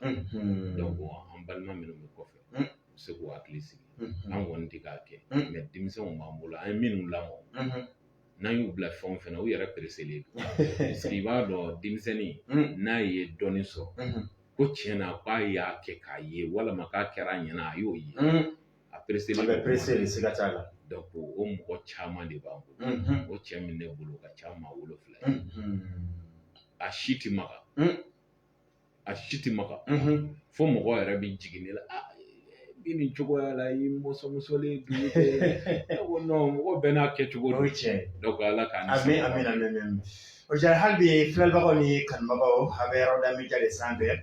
donc an balima minnu bɛ kɔfɛ u bɛ se k'u hakili sigi an kɔni tɛ k'a kɛ mɛ denmisɛnw b'an bolo an ye minnu lamɔ n'an y'u bila fɛn o fɛn na u yɛrɛ pereselen don parce que i b'a dɔn denmisɛnnin n'a ye dɔɔnin sɔrɔ ko tiɲɛ na k'a y'a kɛ k'a ye walima k'a kɛra a ɲɛna a y'o ye a pereselen a bɛ perese de siga t'a la o mɔgɔ caman de b'an bolo o cɛ min ne bolo ka ca maa wolonfila ye a si ti maga a si ti maga fo mɔgɔ yɛrɛ bɛ jigin ne la bi nin cogoya la i mɔsɔnmɔsɔnnen dugu tɛ ne ko mɔgɔ bɛɛ n'a kɛcogo don donc ala k'an a bɛ a bɛ na o jara hali bi filɛbagaw ni kanubagaw a bɛ Rawda media sanfɛ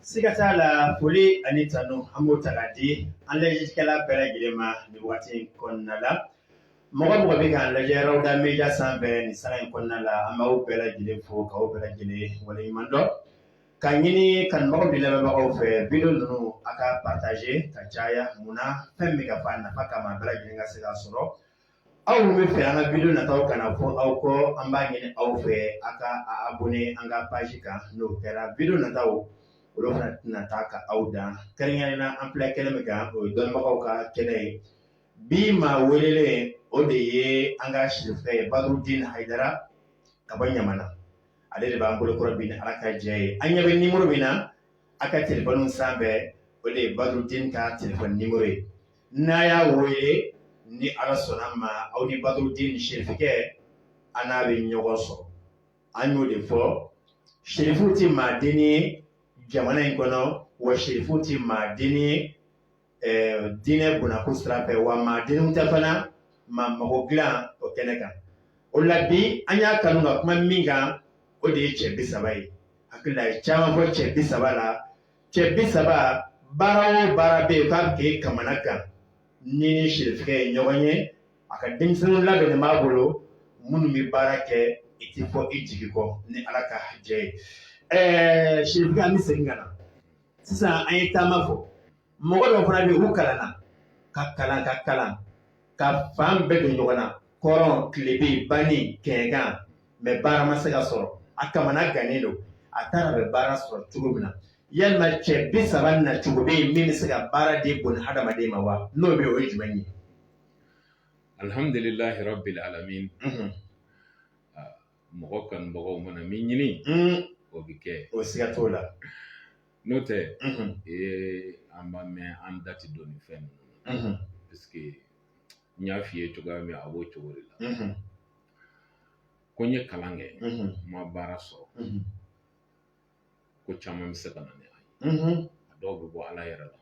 Siga t'a la foli ani tanu an b'o ta k'a di an lajɛlikɛla bɛɛ lajɛlen ma nin waati in kɔnɔna la mɔgɔ mɔgɔ bɛ k'an lajɛ Rawuda Media sanfɛ nin sanga in kɔnɔna la an b'aw bɛɛ lajɛlen fo k'aw bɛɛ lajɛlen waleɲuman dɔn ka ɲini kanubagaw ni lamɛnbagaw fɛ video ninnu a ka partager ka caya mun na fɛn min bɛ ka fɔ a nafa kama bɛɛ lajɛlen ka se k'a sɔrɔ aw minnu b'a fɛ an ka video nataw kana fɔ aw kɔ an b'a ɲini aw fɛ a ka abonné an ka page kan n'o kɛra video nataw olu fana tɛna taa ka aw dan kɛrɛnkɛrɛnnen na an filɛ kɛnɛ min kan o ye dɔnnibagaw ka kɛnɛ ye bi maa welelen o de ye an ka sirifu ye badurudin hayidara ka bɔ ɲamana ale de b'an bolokɔrɔ bi ni ala ka jɛ ye a ɲɛ bɛ nimoro min na a ka telefɔni sanfɛ o de ye badurudin ka telefɔni nimoro ye n'a y'a wele ni ala sɔnna ma aw ni badurudin sirifikɛ a n'a bɛ ɲɔgɔn sɔrɔ an y'o de fɔ sirifu tɛ maa dennin ye jamana in kɔnɔ wa sirifu tɛ maa dennin ye diinɛ bɔnnako sira fɛ wa maa dennin tɛ fana maa mago dilan o kɛnɛ kan o la bi an y'a kanu ka kuma min kan o de ye cɛ bi saba ye hakili la a ye caman fɔ cɛ bi saba la cɛ bi saba baara o baara bɛ yen k'a bɛ k'i kamana gan n'i ni sirifikɛ ye ɲɔgɔn ye a ka denmisɛnninw labɛnnen b'a bolo minnu bɛ baara kɛ i tɛ fɔ i jigi kɔ ni ala ka jɛ ye ɛɛ sirifikɛ an bɛ segin ka na sisan an ye taama fɔ mɔgɔ dɔw fana bɛ yen u kalanna ka kalan ka kalan ka fan bɛɛ don ɲɔgɔn na kɔrɔn tilebin ba ni kɛɲɛka mɛ baara ma se ka sɔrɔ a kamana gannen don a taara bɛ baara sɔrɔ cogo min na yalima cɛ bi saba na cogo bɛ yen min bɛ se ka baara de bon hadamaden ma wa n'o bɛ o ye jumɛn ye alihamdulilahi rabil alamin mɔgɔ kanubagaw mana min ɲini o bɛ kɛ o siga t'o la n'o tɛ ee an b'a mɛn an da tɛ don nin fɛn ninnu na parce que n y'a f'i ye cogoya min a b'o cogo de la ko n ye kalan kɛ n ma baara sɔrɔ ko caman bɛ se ka na ni a ye a dɔw bɛ bɔ ala yɛrɛ la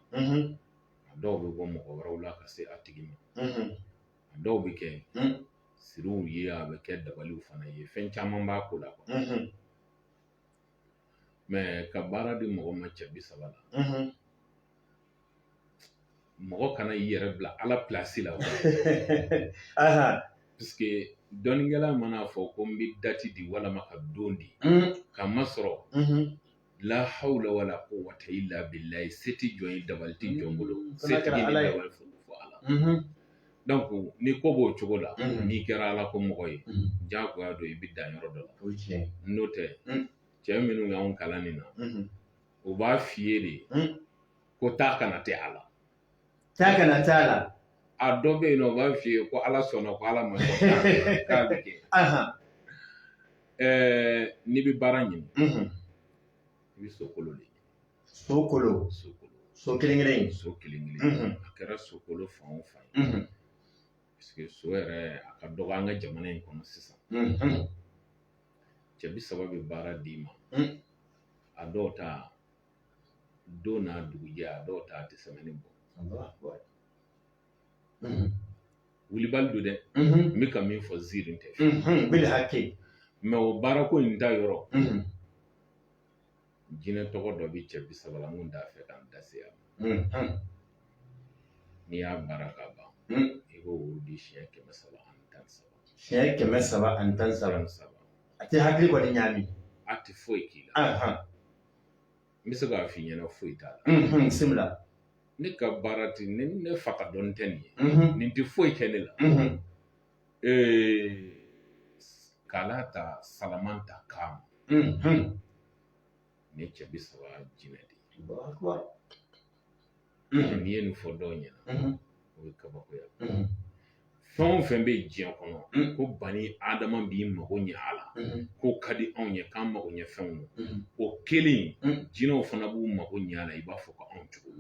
a dɔw bɛ bɔ mɔgɔ wɛrɛw la ka se a tigi ma a dɔw bɛ kɛ siriw ye a bɛ kɛ dabaliw fana ye fɛn caman b'a ko la mɛ ka baara di mɔgɔ ma cɛ bi saba la mɔgɔ kana i yɛrɛ bila ala pilasi la parce que dɔnnikɛla mana a fɔ ko n bɛ dati di walima ka don di ka ma sɔrɔ la hawla wala quwwata illa billahi se tɛ jɔn ye dabali tɛ jɔn bolo mm, se tɛ ni dabali fo ala mm-hmm. donc ni ko b'o cogo la mm-hmm. n'i kɛra ala ko mɔgɔ ye mm-hmm. jagoya don i bɛ dan yɔrɔ dɔ la n'o tɛ mm. cɛ minnu y'anw kalan nin na u b'a f'i ye de ko taa ka na tɛ a la taa ka na t'a la a dɔ bɛ yen nɔ u b'a f'i ye ko ala sɔnna ko ala ma sɔn k'a bɛ- k'a bɛ kɛ Ahan, Ɛɛ, n'i bɛ baara ɲini mhm. i bɛ so kolo de ɲini so kolo so kolo so kelen kelen in so kelen kelen Mhm. a kɛra so kolo fan o fan ye Mhm, parce que so yɛrɛ a ka dɔgɔ an ka jamana in kɔnɔ sisan mhm. cɛ bi saba bɛ baara d'i ma Mm. a dɔw ta don n'a dugujɛ a dɔw ta a tɛ sɛmɛni bɔ wulibali don dɛ n bɛ ka min fɔ ziiri tɛ mɛ o baara ko in ta yɔrɔ jinɛ tɔgɔ dɔ bɛ cɛ bi saba la n t'a fɛ k'an da se yan n'i y'a baara ka ban i b'o wurudi siɲɛ kɛmɛ saba ani tan saba siɲɛ kɛmɛ saba ani tan saba a tɛ hakili kɔni ɲaami a tɛ foyi k'i la n bɛ se k'a f'i ɲɛna foyi t'a la bisimila ne ka baara tɛ ne ne fa ka dɔnni tɛ nin ye nin tɛ foyi kɛ ne la kalata salamanta kam ne cɛ bi saba jinɛ de ye n'i ye nin fɔ dɔw ɲɛna o ye kabakoya fɛn o fɛn bɛ diɲɛ kɔnɔ ko bani adama b'i mago ɲɛ a la k'o ka di anw ye k'an mago ɲɛ fɛnw don o kelen jinɛw fana b'u mago ɲɛ a la i b'a fɔ ko anw cogo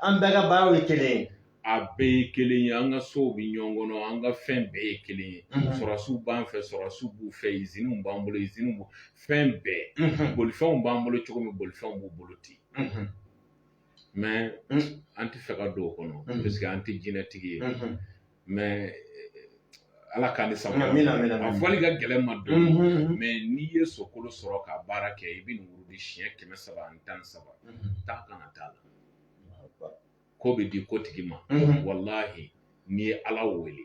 an bɛɛ ka baaraw ye kelen ye a bɛɛ ye kelen ye an ka sow bɛ ɲɔgɔn kɔnɔ an ka fɛn bɛɛ ye kelen ye sɔrɔsiw b'an fɛ sɔrɔsiw b'u fɛ iziniw b'an bolo iziniw b'u fɛn bɛɛ bolifɛnw b'an bolo cogo min bolifɛnw b'u bolo ten an tɛ fɛ ka don o kɔnɔ parce que an tɛ jinɛtigi ye mɛ ala k'an ni sabu a fɔli ka gɛlɛn ma don mɛ n'i ye sokolo sɔrɔ ka baara kɛ i bɛ nin wurudi siɲɛ kɛmɛ saba ani tan ni saba taa ka na t'a la ko bɛ di ko tigi ma walahi n'i ye ala wele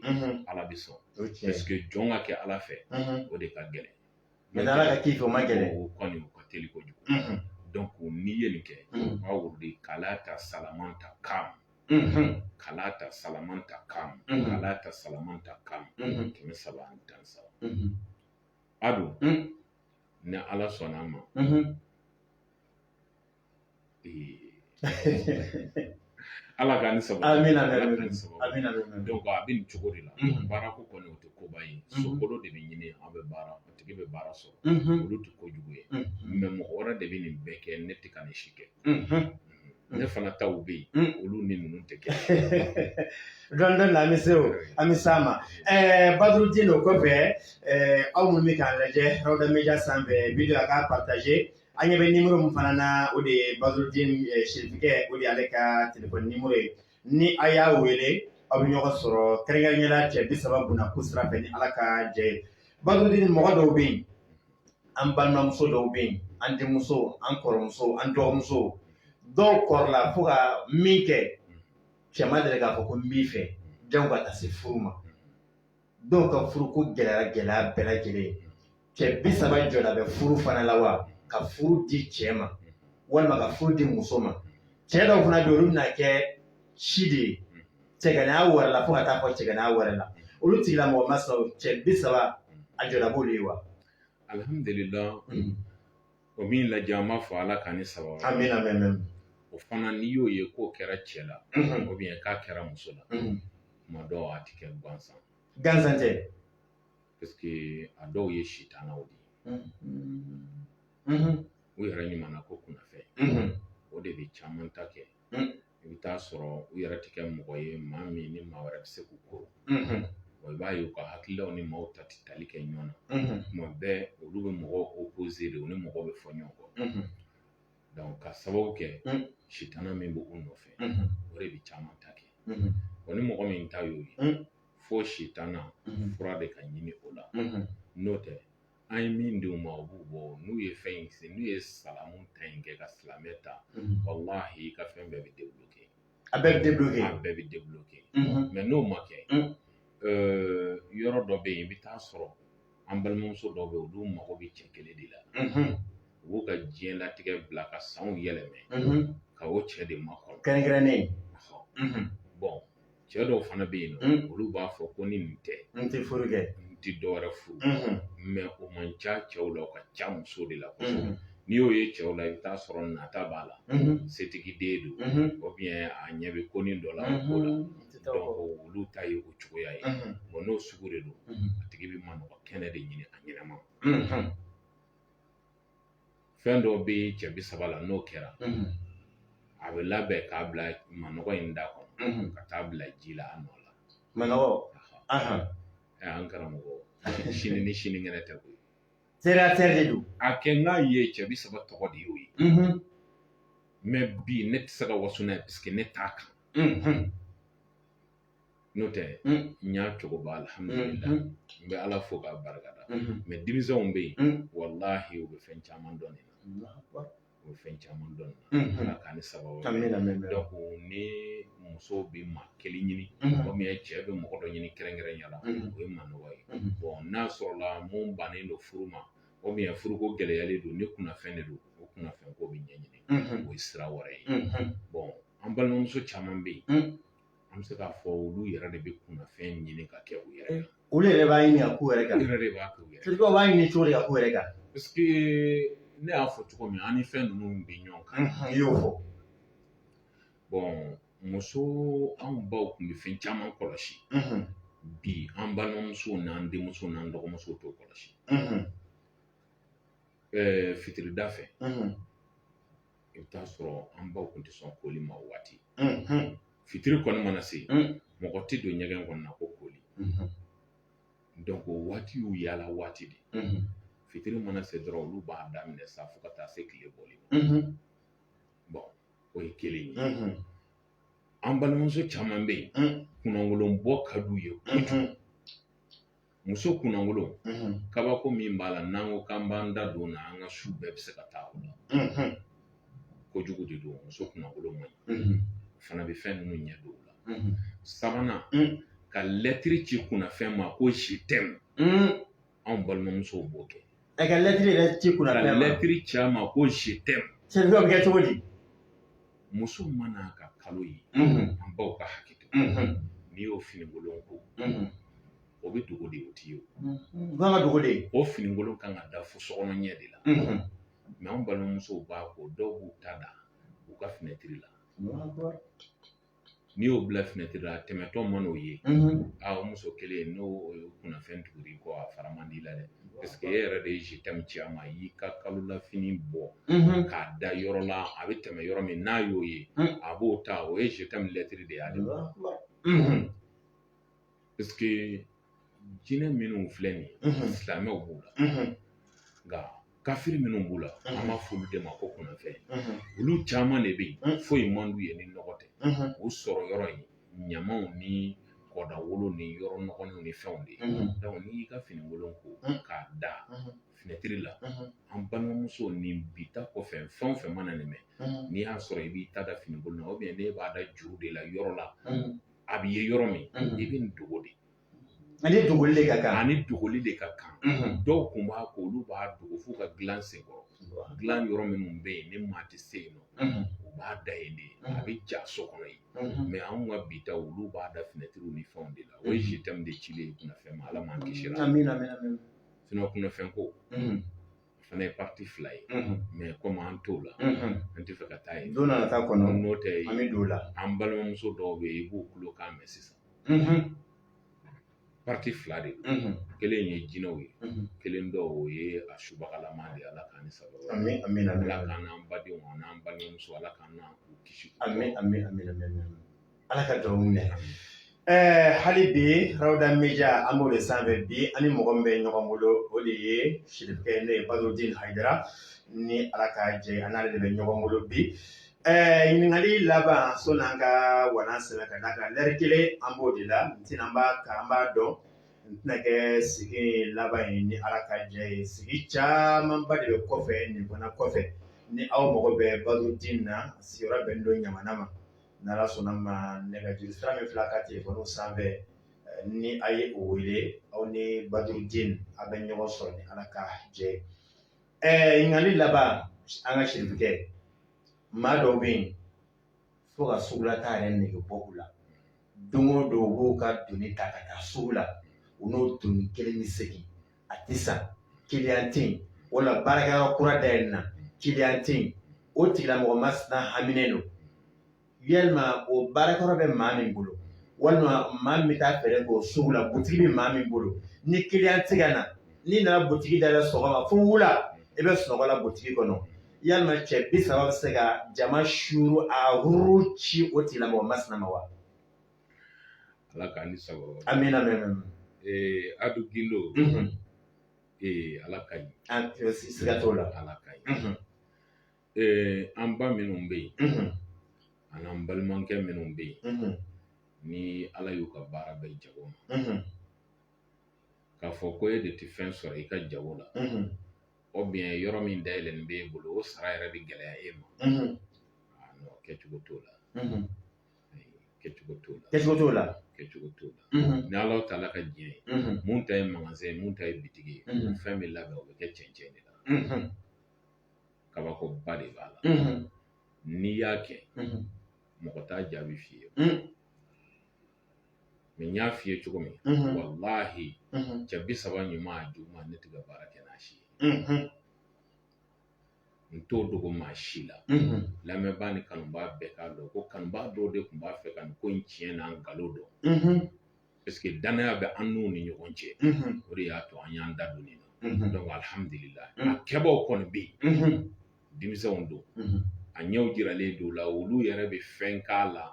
ala bɛ sɔn parce que jɔn ka kɛ ala fɛ o de ka gɛlɛn Mɛ ala ka k'i fɛ o ma gɛlɛn o kɔni o ka teli kojugu donc n'i ye nin kɛ k'a wurudi kalata salamanta kam kalata salamanta kam kalata salamanta kam kɛmɛ saba ani tan saba a dun ni ala sɔnna a ma ala ka ni saba dɔnki a bɛ nin cogo de la baara ko kɔni o tɛ koba ye sokolo de bɛ ɲini an bɛ baara o tigi bɛ baara sɔrɔ olu tɛ kojugu ye mɛ mɔgɔ wɛrɛ de bɛ nin bɛɛ kɛ ne tɛ ka nin si kɛ ne fana taw bɛ yen olu ni ninnu tɛ kɛ don dɔ la an bɛ se o an bɛ s'a ma ɛɛ badurudini o kɔfɛ aw minnu bɛ k'an lajɛ rawda mediya sanfɛ wideyo a k'a pataze An ɲɛ bɛ nimuru min fana na o de ye badurudini serifukɛ o de ale ka telefɔni nimuru ye ni a y'a wele aw bɛ ɲɔgɔn sɔrɔ kɛrɛnkɛrɛnnenya la cɛ bi saba buna ko sira fɛ ni ala ka jɛ badurudini mɔgɔ dɔw bɛ yen an balimamuso dɔw bɛ yen an denmuso an kɔrɔmuso an dɔgɔmuso dɔw kɔrɔla fo ka min kɛ cɛ ma deli k'a fɔ ko n b'i fɛ jango ka taa se furu ma dɔw ka furu ko gɛlɛya gɛlɛya bɛɛ lajɛlen cɛ bi saba jɔda bɛ furu fana la wa ka furu di cɛ ma walima ka furu di muso ma cɛ dɔw fana bɛ olu bɛna kɛ si de ye cɛganaya wɛrɛ la fo ka taa fɔ cɛganaya wɛrɛ la olu tigilamɔgɔ ma sɔrɔ cɛ bi saba a jɔda b'olu ye wa alihamudulila O min lajɛ an b'a fɔ ala ka ni saba amina o fana n'i y'o ye k'o kɛra cɛ la ubiyɛn k'a kɛra muso la tuma dɔw a tɛ kɛ gansan gansan tɛ paseke a dɔw ye sitanaw de u yɛrɛ ɲuman ko kunna fɛ o de bɛ caman ta kɛ i bɛ taa sɔrɔ u yɛrɛ tɛ kɛ mɔgɔ ye maa min ni maa wɛrɛ bɛ se k'u kuru i b'a ye u ka hakililaw ni maaw ta tɛ tali kɛ ɲɔgɔn na tuma bɛɛ olu bɛ mɔgɔw opoze de u ni mɔgɔw bɛ fɔ ɲɔgɔn kɔ dɔnki ka sababu kɛ sitana min bɛ u nɔfɛ o de bɛ caman ta kɛ wa ni mɔgɔ min ta y'o ye fo sitana fura de ka ɲini o la n'o tɛ an ye min d'u ma u b'u bɔ n'u ye fɛn in se n'u ye salamu ta in kɛ ka silamɛ ta walahi i ka fɛn bɛɛ bɛ debloke a bɛɛ bɛ debloke a bɛɛ bɛ debloke mɛ n'o ma kɛ yɔrɔ dɔ bɛ yen i bɛ taa sɔrɔ an balimamuso dɔw bɛ yen olu mago bɛ cɛ kelen de la u b'u ka diɲɛlatigɛ bila ka sanw yɛlɛmɛ ka o cɛ de makɔnɔ kɛrɛnkɛrɛnnen bɔn cɛ dɔw fana bɛ yen nɔ olu b'a fɔ ko ni nin tɛ n tɛ furu kɛ n tɛ dɔwɛrɛ furu mɛ o man ca cɛw la o ka ca muso de la kosɛbɛ n'i y'o ye cɛw la i bɛ t'a sɔrɔ nata b'a la setigi den don ubiyɛn a ɲɛ bɛ konin dɔ la ko la dɔnki olu ta ye o cogoya ye wa n'o sugu de don a tigi bɛ manɔgɔ kɛnɛ de ɲini a ɲɛnama fɛn dɔ bɛ cɛ bi saba la n'o kɛra a bɛ labɛn k'a bila manɔgɔ in da kɔnɔ ka taa bila ji la a nɔ la manɔgɔ an karamɔgɔ sini ni sinikɛnɛ tɛ koyi terre-à-terre de don a kɛ n k'a ye cɛ bi saba tɔgɔ de y'o ye mɛ bi ne tɛ se ka waso n'a ye parce que ne t'a kan n'o tɛ n y'a cogo ba alhamdulillah n bɛ ala fo k'a barika da mɛ denmisɛnw bɛ yen walahi u bɛ fɛn caman dɔn nin na u bɛ fɛn caman dɔn nin na ala k'an ni saba donc ni muso bɛ maa kelen ɲini ou bien cɛ bɛ mɔgɔ dɔ ɲini kɛrɛnkɛrɛnya la o ye manɔgɔ ye bon n'a sɔrɔla mun bannen don furu ma ou bien furuko gɛlɛyalen don ni kunnafɛn de don o kunnafɛn ko bɛ ɲɛɲini o ye sira wɛrɛ ye bon an balimamuso caman bɛ yen an bɛ se k'a fɔ olu yɛrɛ de bɛ kunnafɛn ɲini ka kɛ u yɛrɛ kan olu yɛrɛ b'a ɲini ka k'u yɛrɛ kan olu yɛrɛ de b'a kɛ u yɛrɛ kan sirikaw b'a ɲini cogo di ka k'u yɛrɛ kan parce que ne y'a fɔ cogo min an ni fɛn ninnu bɛ ɲɔgɔn kan i y'o fɔ bon muso anw baw tun bɛ fɛn caman kɔlɔsi bi an balimamusow n'an denmusow n'an dɔgɔmusow t'o kɔlɔsi ɛɛ fitirida fɛ i bɛ t'a sɔrɔ an baw tun tɛ sɔn koli ma o waati fitiri kɔni mana se mɔgɔ tɛ don ɲɛgɛn kɔnɔna ko koli donc o waati y'u yaala waati de fitiri mana se dɔrɔn olu b'a daminɛ sa fo ka taa se tile bɔli ma bon o ye kelen ye an balimamuso caman bɛ yen kunnaŋolo bɔ ka d'u ye muso kunnaŋolo unhun kabako min b'a la n'an ko k'an b'an da don o la an ka su bɛɛ bɛ se ka taa o la unhun kojugu de don muso kunnaŋolo man ɲi unhun o fana bɛ fɛn ninnu ɲɛ don o la unhun sabanan un ka lɛtiri ci kunnafɛn ma ko je t'aime un anw balimamusow b'o kɛ A ka lɛtiri yɛrɛ ci kunna ka lɛtiri ci a ma ko je t'aime sɛbɛn bɛ kɛ cogo di muso man'a ka kalo ye an baw ka hakɛ to n'i y'o finikolon ko o bɛ dogo de o tɛ ye o kan ka dogo de o finikolon kan ka da fo sokɔnɔ ɲɛ de la mɛ an balimamusow b'a ko dɔw b'u ta da u ka finɛtiri la n'i y'o bila finɛtiri la a tɛmɛtɔ man'o ye a o muso kelen n'o kunnafɛn tugur'i kɔ a fara man d'i la dɛ paseke e yɛrɛ de ye je t'aime ci a ma i y'i ka kalo la fini bɔ k'a da yɔrɔ la a bɛ tɛmɛ yɔrɔ min n'a y'o ye a b'o ta o ye je t'aime lɛtiri de ye ale Parce que jinɛ minnu filɛ nin ye silamɛw b'u la nka kafiri minnu b'u la an b'a fɔ olu de ma ko kunnafɛn olu caman de bɛ yen foyi man d'u ye ni nɔgɔ tɛ u sɔrɔ yɔrɔ ye ɲamaw ni kɔda wolo ni yɔrɔ nɔgɔlenw ni fɛnw de ye n'i y'i ka finikolon ko k'a da finɛtiri la an balimamuso ni bi ta kɔfɛ fɛn o fɛn mana nin mɛn n'i y'a sɔrɔ i b'i ta da finikolon na ou bien n'e b'a da juru de la yɔrɔ la a bɛ ye yɔrɔ min i bɛ nin dogo de ani dogoli de ka kan ani dogoli de ka kan dɔw kun b'a ko olu b'a dogo f'u ka dilan sen kɔrɔ dilan yɔrɔ minnu bɛ yen ni maa tɛ se yen nɔ u b'a da yen de a bɛ ja so kɔnɔ yen mɛ anw ka bi ta olu b'a da finɛtiriw ni fɛnw de la o ye je t'aime de cilen ye kunnafɛn ma ala m'an kisi la sinon kunnafɛn ko o fana ye pati fila ye mɛ komi an t'o la an tɛ fɛ ka taa yen don nana taa kɔnɔ n'o tɛ an bɛ don o la an balimamuso dɔw bɛ yen i b'u kulo kan mɛn sisan pati fila de don kelen ye jinɛw ye kelen dɔ o ye a subagalama de ye ala k'an ni sababa ala k'an n'an badenw ani an balimamuso ala k'an n'an kisi amin Ala ka dugawu minɛ ɛɛ hali bi rawda media an b'o de sanfɛ bi an ni mɔgɔ min bɛ ɲɔgɔn bolo o de ye sirifukɛ n'o ye Badrudin Hayidara ni ala ka jɛ an n'ale de bɛ ɲɔgɔn bolo bi ɛɛ ɲininkali laban sani an ka wa sabu ka da kan lɛri kelen an b'o de la n tɛna an b'a ka an b'a dɔn n tɛna kɛ sigi laban ye ni ala ka jɛ ye sigi camanba de bɛ kɔfɛ nin fana kɔfɛ ni aw mago bɛ Badrudin na sigiyɔrɔ bɛnnen don Ɲamana ma ni Ala sɔnna ma nɛgɛjuru sira min filɛ a ka telefɔni sanfɛ ni a ye o wele aw ni Badrudin a bɛ ɲɔgɔn sɔrɔ ni Ala ka jɛ ye ɛɛ ɲininkali laban an ka sirifukɛ maa dɔw bɛ yen fo ka sugulataa yɛrɛ nege bɔ u la don o don u b'u ka doni ta ka taa sugu la u n'o doni kelen bɛ segin a tɛ san kiliyan tɛ yen wala baarakɛyɔrɔ kura dayɛlɛ na kiliyan tɛ yen o tigilamɔgɔ masina haminen don yalima o baarakɛyɔrɔ bɛ maa min bolo walima maa min bɛ taa feere k'o sugu la butigi bɛ maa min bolo ni kiliyan tɛ ka na n'i nana butigi da la sɔgɔma fo wula i bɛ sunɔgɔ la butigi kɔnɔ yalima cɛ bi saba bɛ se ka jama suuru a huru ci o tigilamɔgɔ masina ma wa Ala k'an ni sababa bɛn. Amina ya rabi. Ee Adu Gindo ee Ala ka ɲi. Siga t'o la. Ala ka ɲi. Ee an ba minnu bɛ yen ani an balimakɛ minnu bɛ yen ni Ala y'u ka baara bɛn jago ma k'a fɔ ko e de tɛ fɛn sɔrɔ i ka jago la ou bien yɔrɔ min dayɛlɛlen b'e bolo o sara yɛrɛ bɛ gɛlɛya e ma a kɛcogo t'o la. kɛcogo t'o la kɛcogo t'o la kɛcogo t'o la ni ala ta la ka diɲɛ ye mun ta ye magasin ye mun ta ye bitigi ye fɛn bɛ labɛn o bɛ kɛ cɛncɛn de la kabakoba de b'a la n'i y'a kɛ mɔgɔ t'a jaabi f'i ye mɛ n y'a f'i ye cogo min walahi cɛ bi saba ɲuman a juguman ne tɛ ka baara kɛ n'a si ye n t'o dogo maa si la lamɛnbaa ni kanubaa bɛɛ k'a dɔn ko kanubaa dɔw de tun b'a fɛ ka nin ko in tiɲɛ n'a nkalon dɔn paseke danaya bɛ an n'u ni ɲɔgɔn cɛ o de y'a to an y'an da don nin na donc alihamudulila a kɛbaaw kɔni bɛ yen denmisɛnw don a ɲɛw jiralen don o la olu yɛrɛ bɛ fɛn k'a la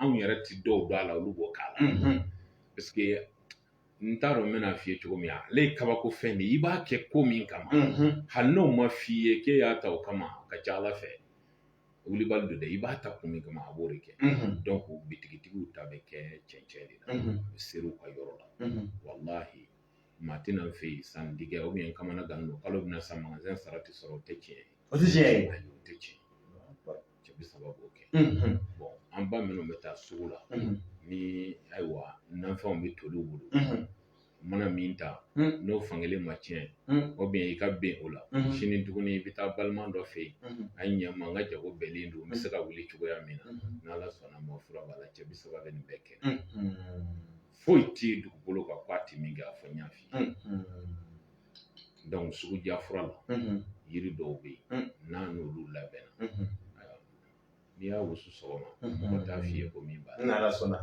anw yɛrɛ ti dɔw dɔn a la olu b'o k'a la parce que n t'a dɔn n bɛna f'i ye cogo min na ale ye kabako fɛn de ye i b'a kɛ ko min kama hali n'o ma f'i ye k'e y'a ta o kama a ka c'a la fɛn wulibali don dɛ i b'a ta kun min kama a b'o de kɛ donc bitigitigiw ta bɛ kɛ cɛncɛn de la u b'a ser'u ka yɔrɔ la walahi maa tɛ na n fɛ yen sanni kɛ u bɛ yen kamana gannen don kalo bɛna sa magasin sara tɛ sɔrɔ o tɛ tiɲɛ ye o tɛ tiɲɛ ye o tɛ tiɲɛ cɛ bi saba b'o kɛ bon an ba minnu bɛ taa sugu la ni ayiwa nafɛnw bɛ toli u bolo mana min ta n'o fankelen ma tiɲɛ o bɛ yen i ka bɛn o la sini tuguni i bɛ taa balima dɔ fɛ yen a ye ɲɛ n ma n ka jago binnen don n bɛ se ka wuli cogoya min na n'ala sɔnn'a ma fura b'a la cɛ bi saba bɛ nin bɛɛ kɛ foyi tɛ dugukolo kan ko a tɛ min kɛ a fɔ n y'a f'i ye donc sugu diya fura la yiri dɔw bɛ yen n'a n'olu labɛnna n'i y'a wusu sɔgɔma mɔgɔ t'a f'i ye ko min b'a la n'ala sɔnna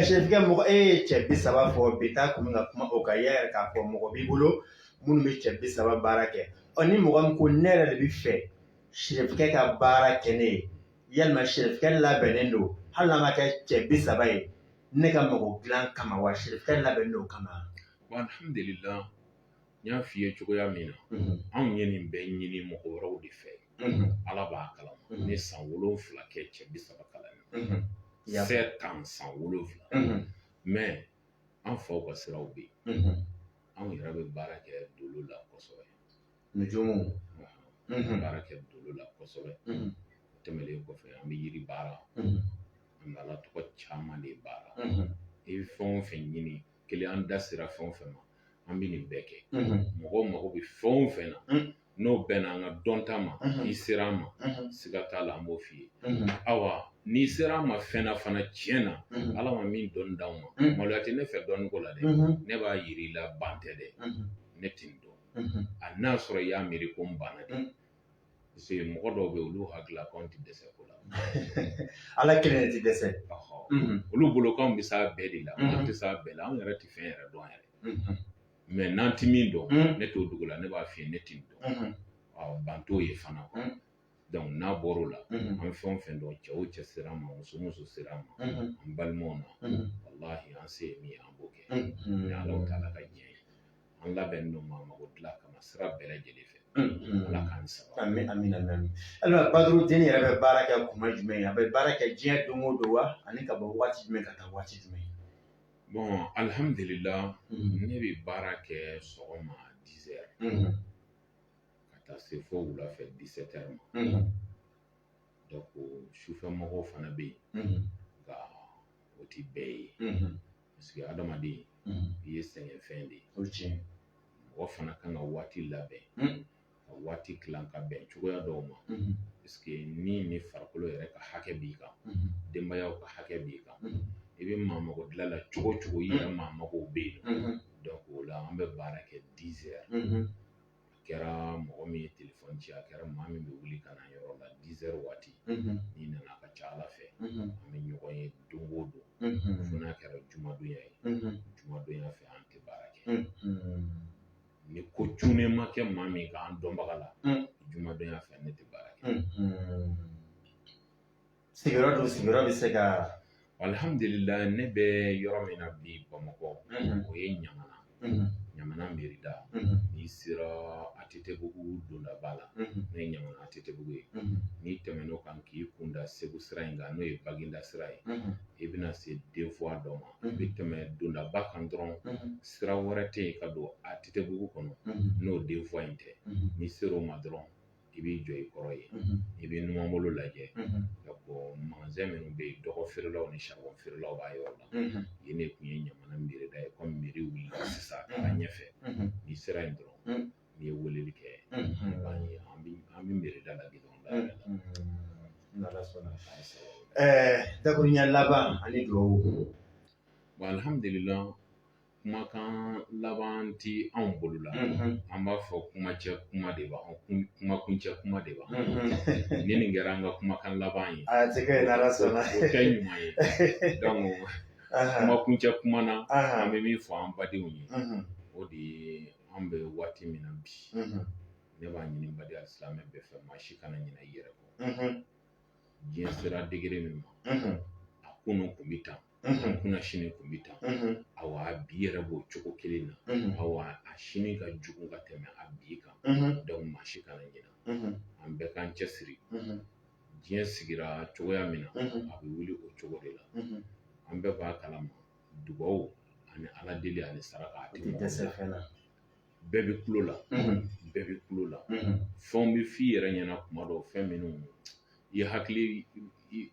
serifikɛ mɔgɔ e ye cɛ bi saba fɔ bi taa kun bɛ ka kuma o kan i y'a yira k'a fɔ mɔgɔ b'i bolo minnu bɛ cɛ bi saba baara kɛ ɔ ni mɔgɔ min ko ne yɛrɛ de b'a fɛ serifikɛ ka baara kɛ ne ye yalima serifikɛ labɛnnen don hali n'a ma kɛ cɛ bi saba ye ne ka mɔgɔ dilan kama wa serifikɛ labɛnnen don o kama Alihamdulila n y'a f'i ye cogoya min na anw ye nin bɛɛ ɲini mɔgɔ wɛrɛw de fɛ ala b'a kalama ne san wolonwula kɛ cɛ bi saba kalan na sept ans san wolonwula mɛ an faw ka siraw bɛ yen anw yɛrɛ bɛ baara kɛ dolo la kosɛbɛ baara kɛ dolo la kosɛbɛ tɛmɛlen kɔfɛ an bɛ yiri baara an b'ala tɔgɔ caman de baara i bɛ fɛn o fɛn ɲini kelen an da sera fɛn o fɛn ma an bɛ nin bɛɛ kɛ mɔgɔw mago bɛ fɛn o fɛn na n'o bɛnna an ka dɔnta ma n'i sera an ma siga t'a la an b'o f'i ye awa n'i sera an ma fɛn na fana tiɲɛ na ala ma min dɔnni d'anw ma maloya tɛ ne fɛ dɔnni ko la dɛ ne b'a yir'i la ban tɛ dɛ ne tɛ nin dɔn a n'a sɔrɔ i y'a miiri ko n banna dɛ Paseke mɔgɔ dɔw bɛ yen olu hakili la k'anw tɛ dɛsɛ ko la ala kelen tɛ dɛsɛ olu bolo k'anw bɛ se a bɛɛ de la an tɛ se a bɛɛ la anw yɛrɛ tɛ fɛn yɛrɛ dɔn yɛrɛ mɛ n'an tɛ min dɔn ne t'o dogo i la ne b'a f'i ye ne tɛ dɔn ban t'o ye fana donc n'a bɔra o la an bɛ fɛn o fɛn dɔn cɛ o cɛ sera an ma muso o muso sera an ma an balimaw na walahi an se ye min ye an b'o kɛ ni ala taala ka diɲɛ ye an labɛnnen don maa mago dilan kama sira bɛɛ lajɛlen fɛ ala k'an saba amin amin amin amin ayiwa Badurudini yɛrɛ bɛ baara kɛ kuma jumɛn ye a bɛ baara kɛ diɲɛ don o don wa ani ka bɔ waati jumɛn ka taa waati jumɛn bɔn alihamudulila ne bɛ baara kɛ sɔgɔma dizɛri ka taa se fo wulafɛ disɛtɛri ma donc sufɛ mɔgɔw fana bɛ yen nka o tɛ bɛɛ ye parce que adamaden i ye sɛgɛnfɛn de ye mɔgɔ fana kan ka waati labɛn ka waati tilan ka bɛn cogoya dɔw ma parce que ni ni farikolo yɛrɛ ka hakɛ b'i kan denbayaw ka hakɛ b'i kan i bɛ maa mago dilan la cogo o cogo i yɛrɛ maa mago bɛ yen donc o la an bɛ baara kɛ a kɛra mɔgɔ min ye telefɔni ci a kɛra maa min bɛ wuli ka na an yɔrɔ la dizɛri waati n'i nana a ka ca a la fɛ an bɛ ɲɔgɔn ye don o don fo n'a kɛra jumadonya ye jumadonya fɛ an tɛ baara kɛ ni ko cunnen ma kɛ maa min kan an dɔnbaga la jumadonya fɛ ne tɛ baara kɛ Sigiyɔrɔ dun sigiyɔrɔ bɛ se ka alihamdulila ne bɛ yɔrɔ min na bi bamakɔ o ye ɲamana ɲamana mɛri da n'i sera ATTbugu dondaba la n'o ye ɲamana ATTbugu ye n'i tɛmɛn'o kan k'i kunda segu sira in kan n'o ye Baginda sira ye i bɛna se deux voies dɔ ma i bɛ tɛmɛ dondaba kan dɔrɔn sira wɛrɛ tɛ yen ka don ATTbugu kɔnɔ n'o deux voies in tɛ n'i sera o ma dɔrɔn i b'i jɔ i kɔrɔ yen i bɛ numanbolo lajɛ magazɛn minnu bɛ yen dɔgɔ feerelaw ni saribɔn feerelaw b'a yɔrɔ la yen de tun ye ɲamana mɛri da ye komi mɛri wulila sisan a taara ɲɛfɛ n'i sera yen dɔrɔn n'i ye weleli kɛ i b'a ye an bɛ an bɛ mɛri da la gidɔrɔn da yɛrɛ la n'ala sɔnna ɛɛ dakuruɲɛ laban ani dugawu alihamudulila kumakan laban tɛ anw bolo la an b'a fɔ kuma cɛ kuma de b'a kumakuncɛ kuma de b'a ni nin kɛra an ka kumakan laban ye a tɛ kɛ n'ala sɔnna o kɛ ɲuman ye kumakuncɛ kuma na an bɛ min fɔ an badenw ye o de ye an bɛ waati min na bi ne b'a ɲini baden alisilamɛ bɛɛ fɛ maa si kana ɲinɛ i yɛrɛ kɔ diɲɛ sera degere min ma a kunun kun bɛ tan a kunasini kun bɛ tan awa bi yɛrɛ b'o cogo kelen na awa a sini ka jugu ka tɛmɛ a bi kan donc maa si kana ɲina an bɛɛ k'an cɛsiri diɲɛ sigira cogoya min na a bɛ wuli o cogo de la an bɛɛ b'a kalama dugawu ani ala deli ani saraka a tɛ dɛsɛ fɛn na bɛɛ bɛ kulo la bɛɛ bɛ kulo la fɛnw bɛ f'i yɛrɛ ɲɛna kuma dɔw fɛn minnu i hakili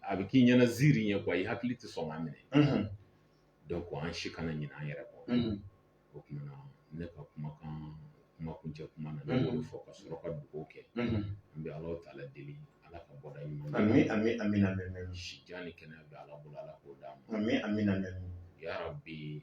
a bɛ k'i ɲɛna ziiri ɲɛ kuwa i hakili tɛ sɔn k'a minɛ donc an si kana ɲinɛ an yɛrɛ kɔ o kumana ne ka kumakan kuma kuncɛ kuma na ne b'olu fɔ ka sɔrɔ ka dugawu kɛ an bɛ ala taala deli ala ka bɔda ɲuman ami ami amina si jan ni kɛnɛya bɛ ala bolo ala k'o d'a ma ami amina yarabi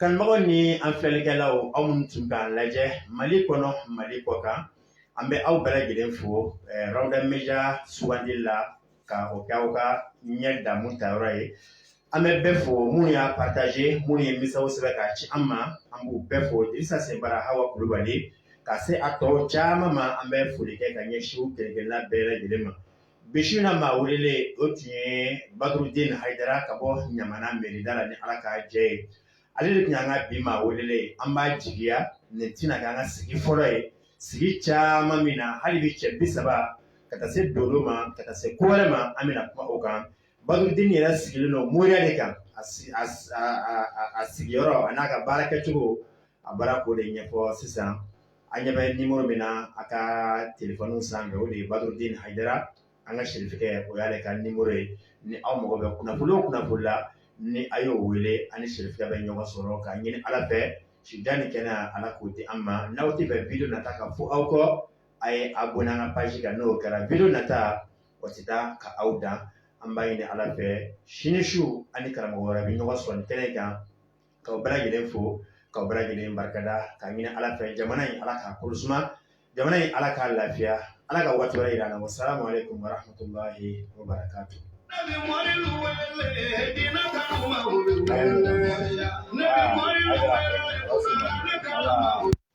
Kanubagaw ni an filɛlikɛlaw aw minnu tun k'an lajɛ mali kɔnɔ mali kɔkan an bɛ aw bɛɛ lajɛlen fo Rawda Media sugandi la ka o kɛ aw ka ɲɛ damu tayɔrɔ ye an bɛ bɛɛ fo minnu y'a partage minnu ye misaw sɛbɛn ka ci an ma an b'u bɛɛ fo Dirisa Senbara Hawa Kulubali ka se a tɔ caman ma an bɛ foli kɛ ka ɲɛsin u kelenkelenna bɛɛ lajɛlen ma Bi su in na maa welelen o tun ye Badurudine Hayidara ka bɔ Ɲamana mairie da la ni ala ka jɛ ye ale de tun y'an ka bi maa welelen an b'a jigiya nin tɛna k'an ka sigi fɔlɔ ye sigi caman min na hali bi cɛ bi saba ka taa se dolo ma ka taa se ko wɛrɛ ma an bɛna kuma o kan Badurudine yɛrɛ sigilen don moriya de kan a sigiyɔrɔ a n'a ka baara kɛcogo a baara k'o de ɲɛfɔ sisan an ɲɛ bɛ numéro min na a ka téléphone sanfɛ o de ye Badurudine Hayidara, an ka sɛrifikɛ o y'ale ka numéro ye ni aw mago bɛ kunnafoni o kunnafoni la ni a y'o wele a ni sɛrifikɛ bɛ ɲɔgɔn sɔrɔ k'a ɲini Ala fɛ sida ni kɛnɛya Ala k'o di an ma, n'aw tɛ fɛ video nata ka fɔ aw kɔ a ye abonné an ka page kan n'o kɛra video nata o tɛ taa ka aw dan an b'a ɲini Ala fɛ sini su an ni karamɔgɔ wɛrɛ bɛ ɲɔgɔn sɔrɔ nin kɛnɛ in kan k'aw bɛɛ lajɛlen fo k'aw bɛɛ lajɛlen barikada k'a ɲini ala fɛ jamana in ala k'a kolo suma jamana in ala k'a lafiya ala ka waati wɛrɛ jira an na wassalamu alaykum warahmatullahi wabarakatuh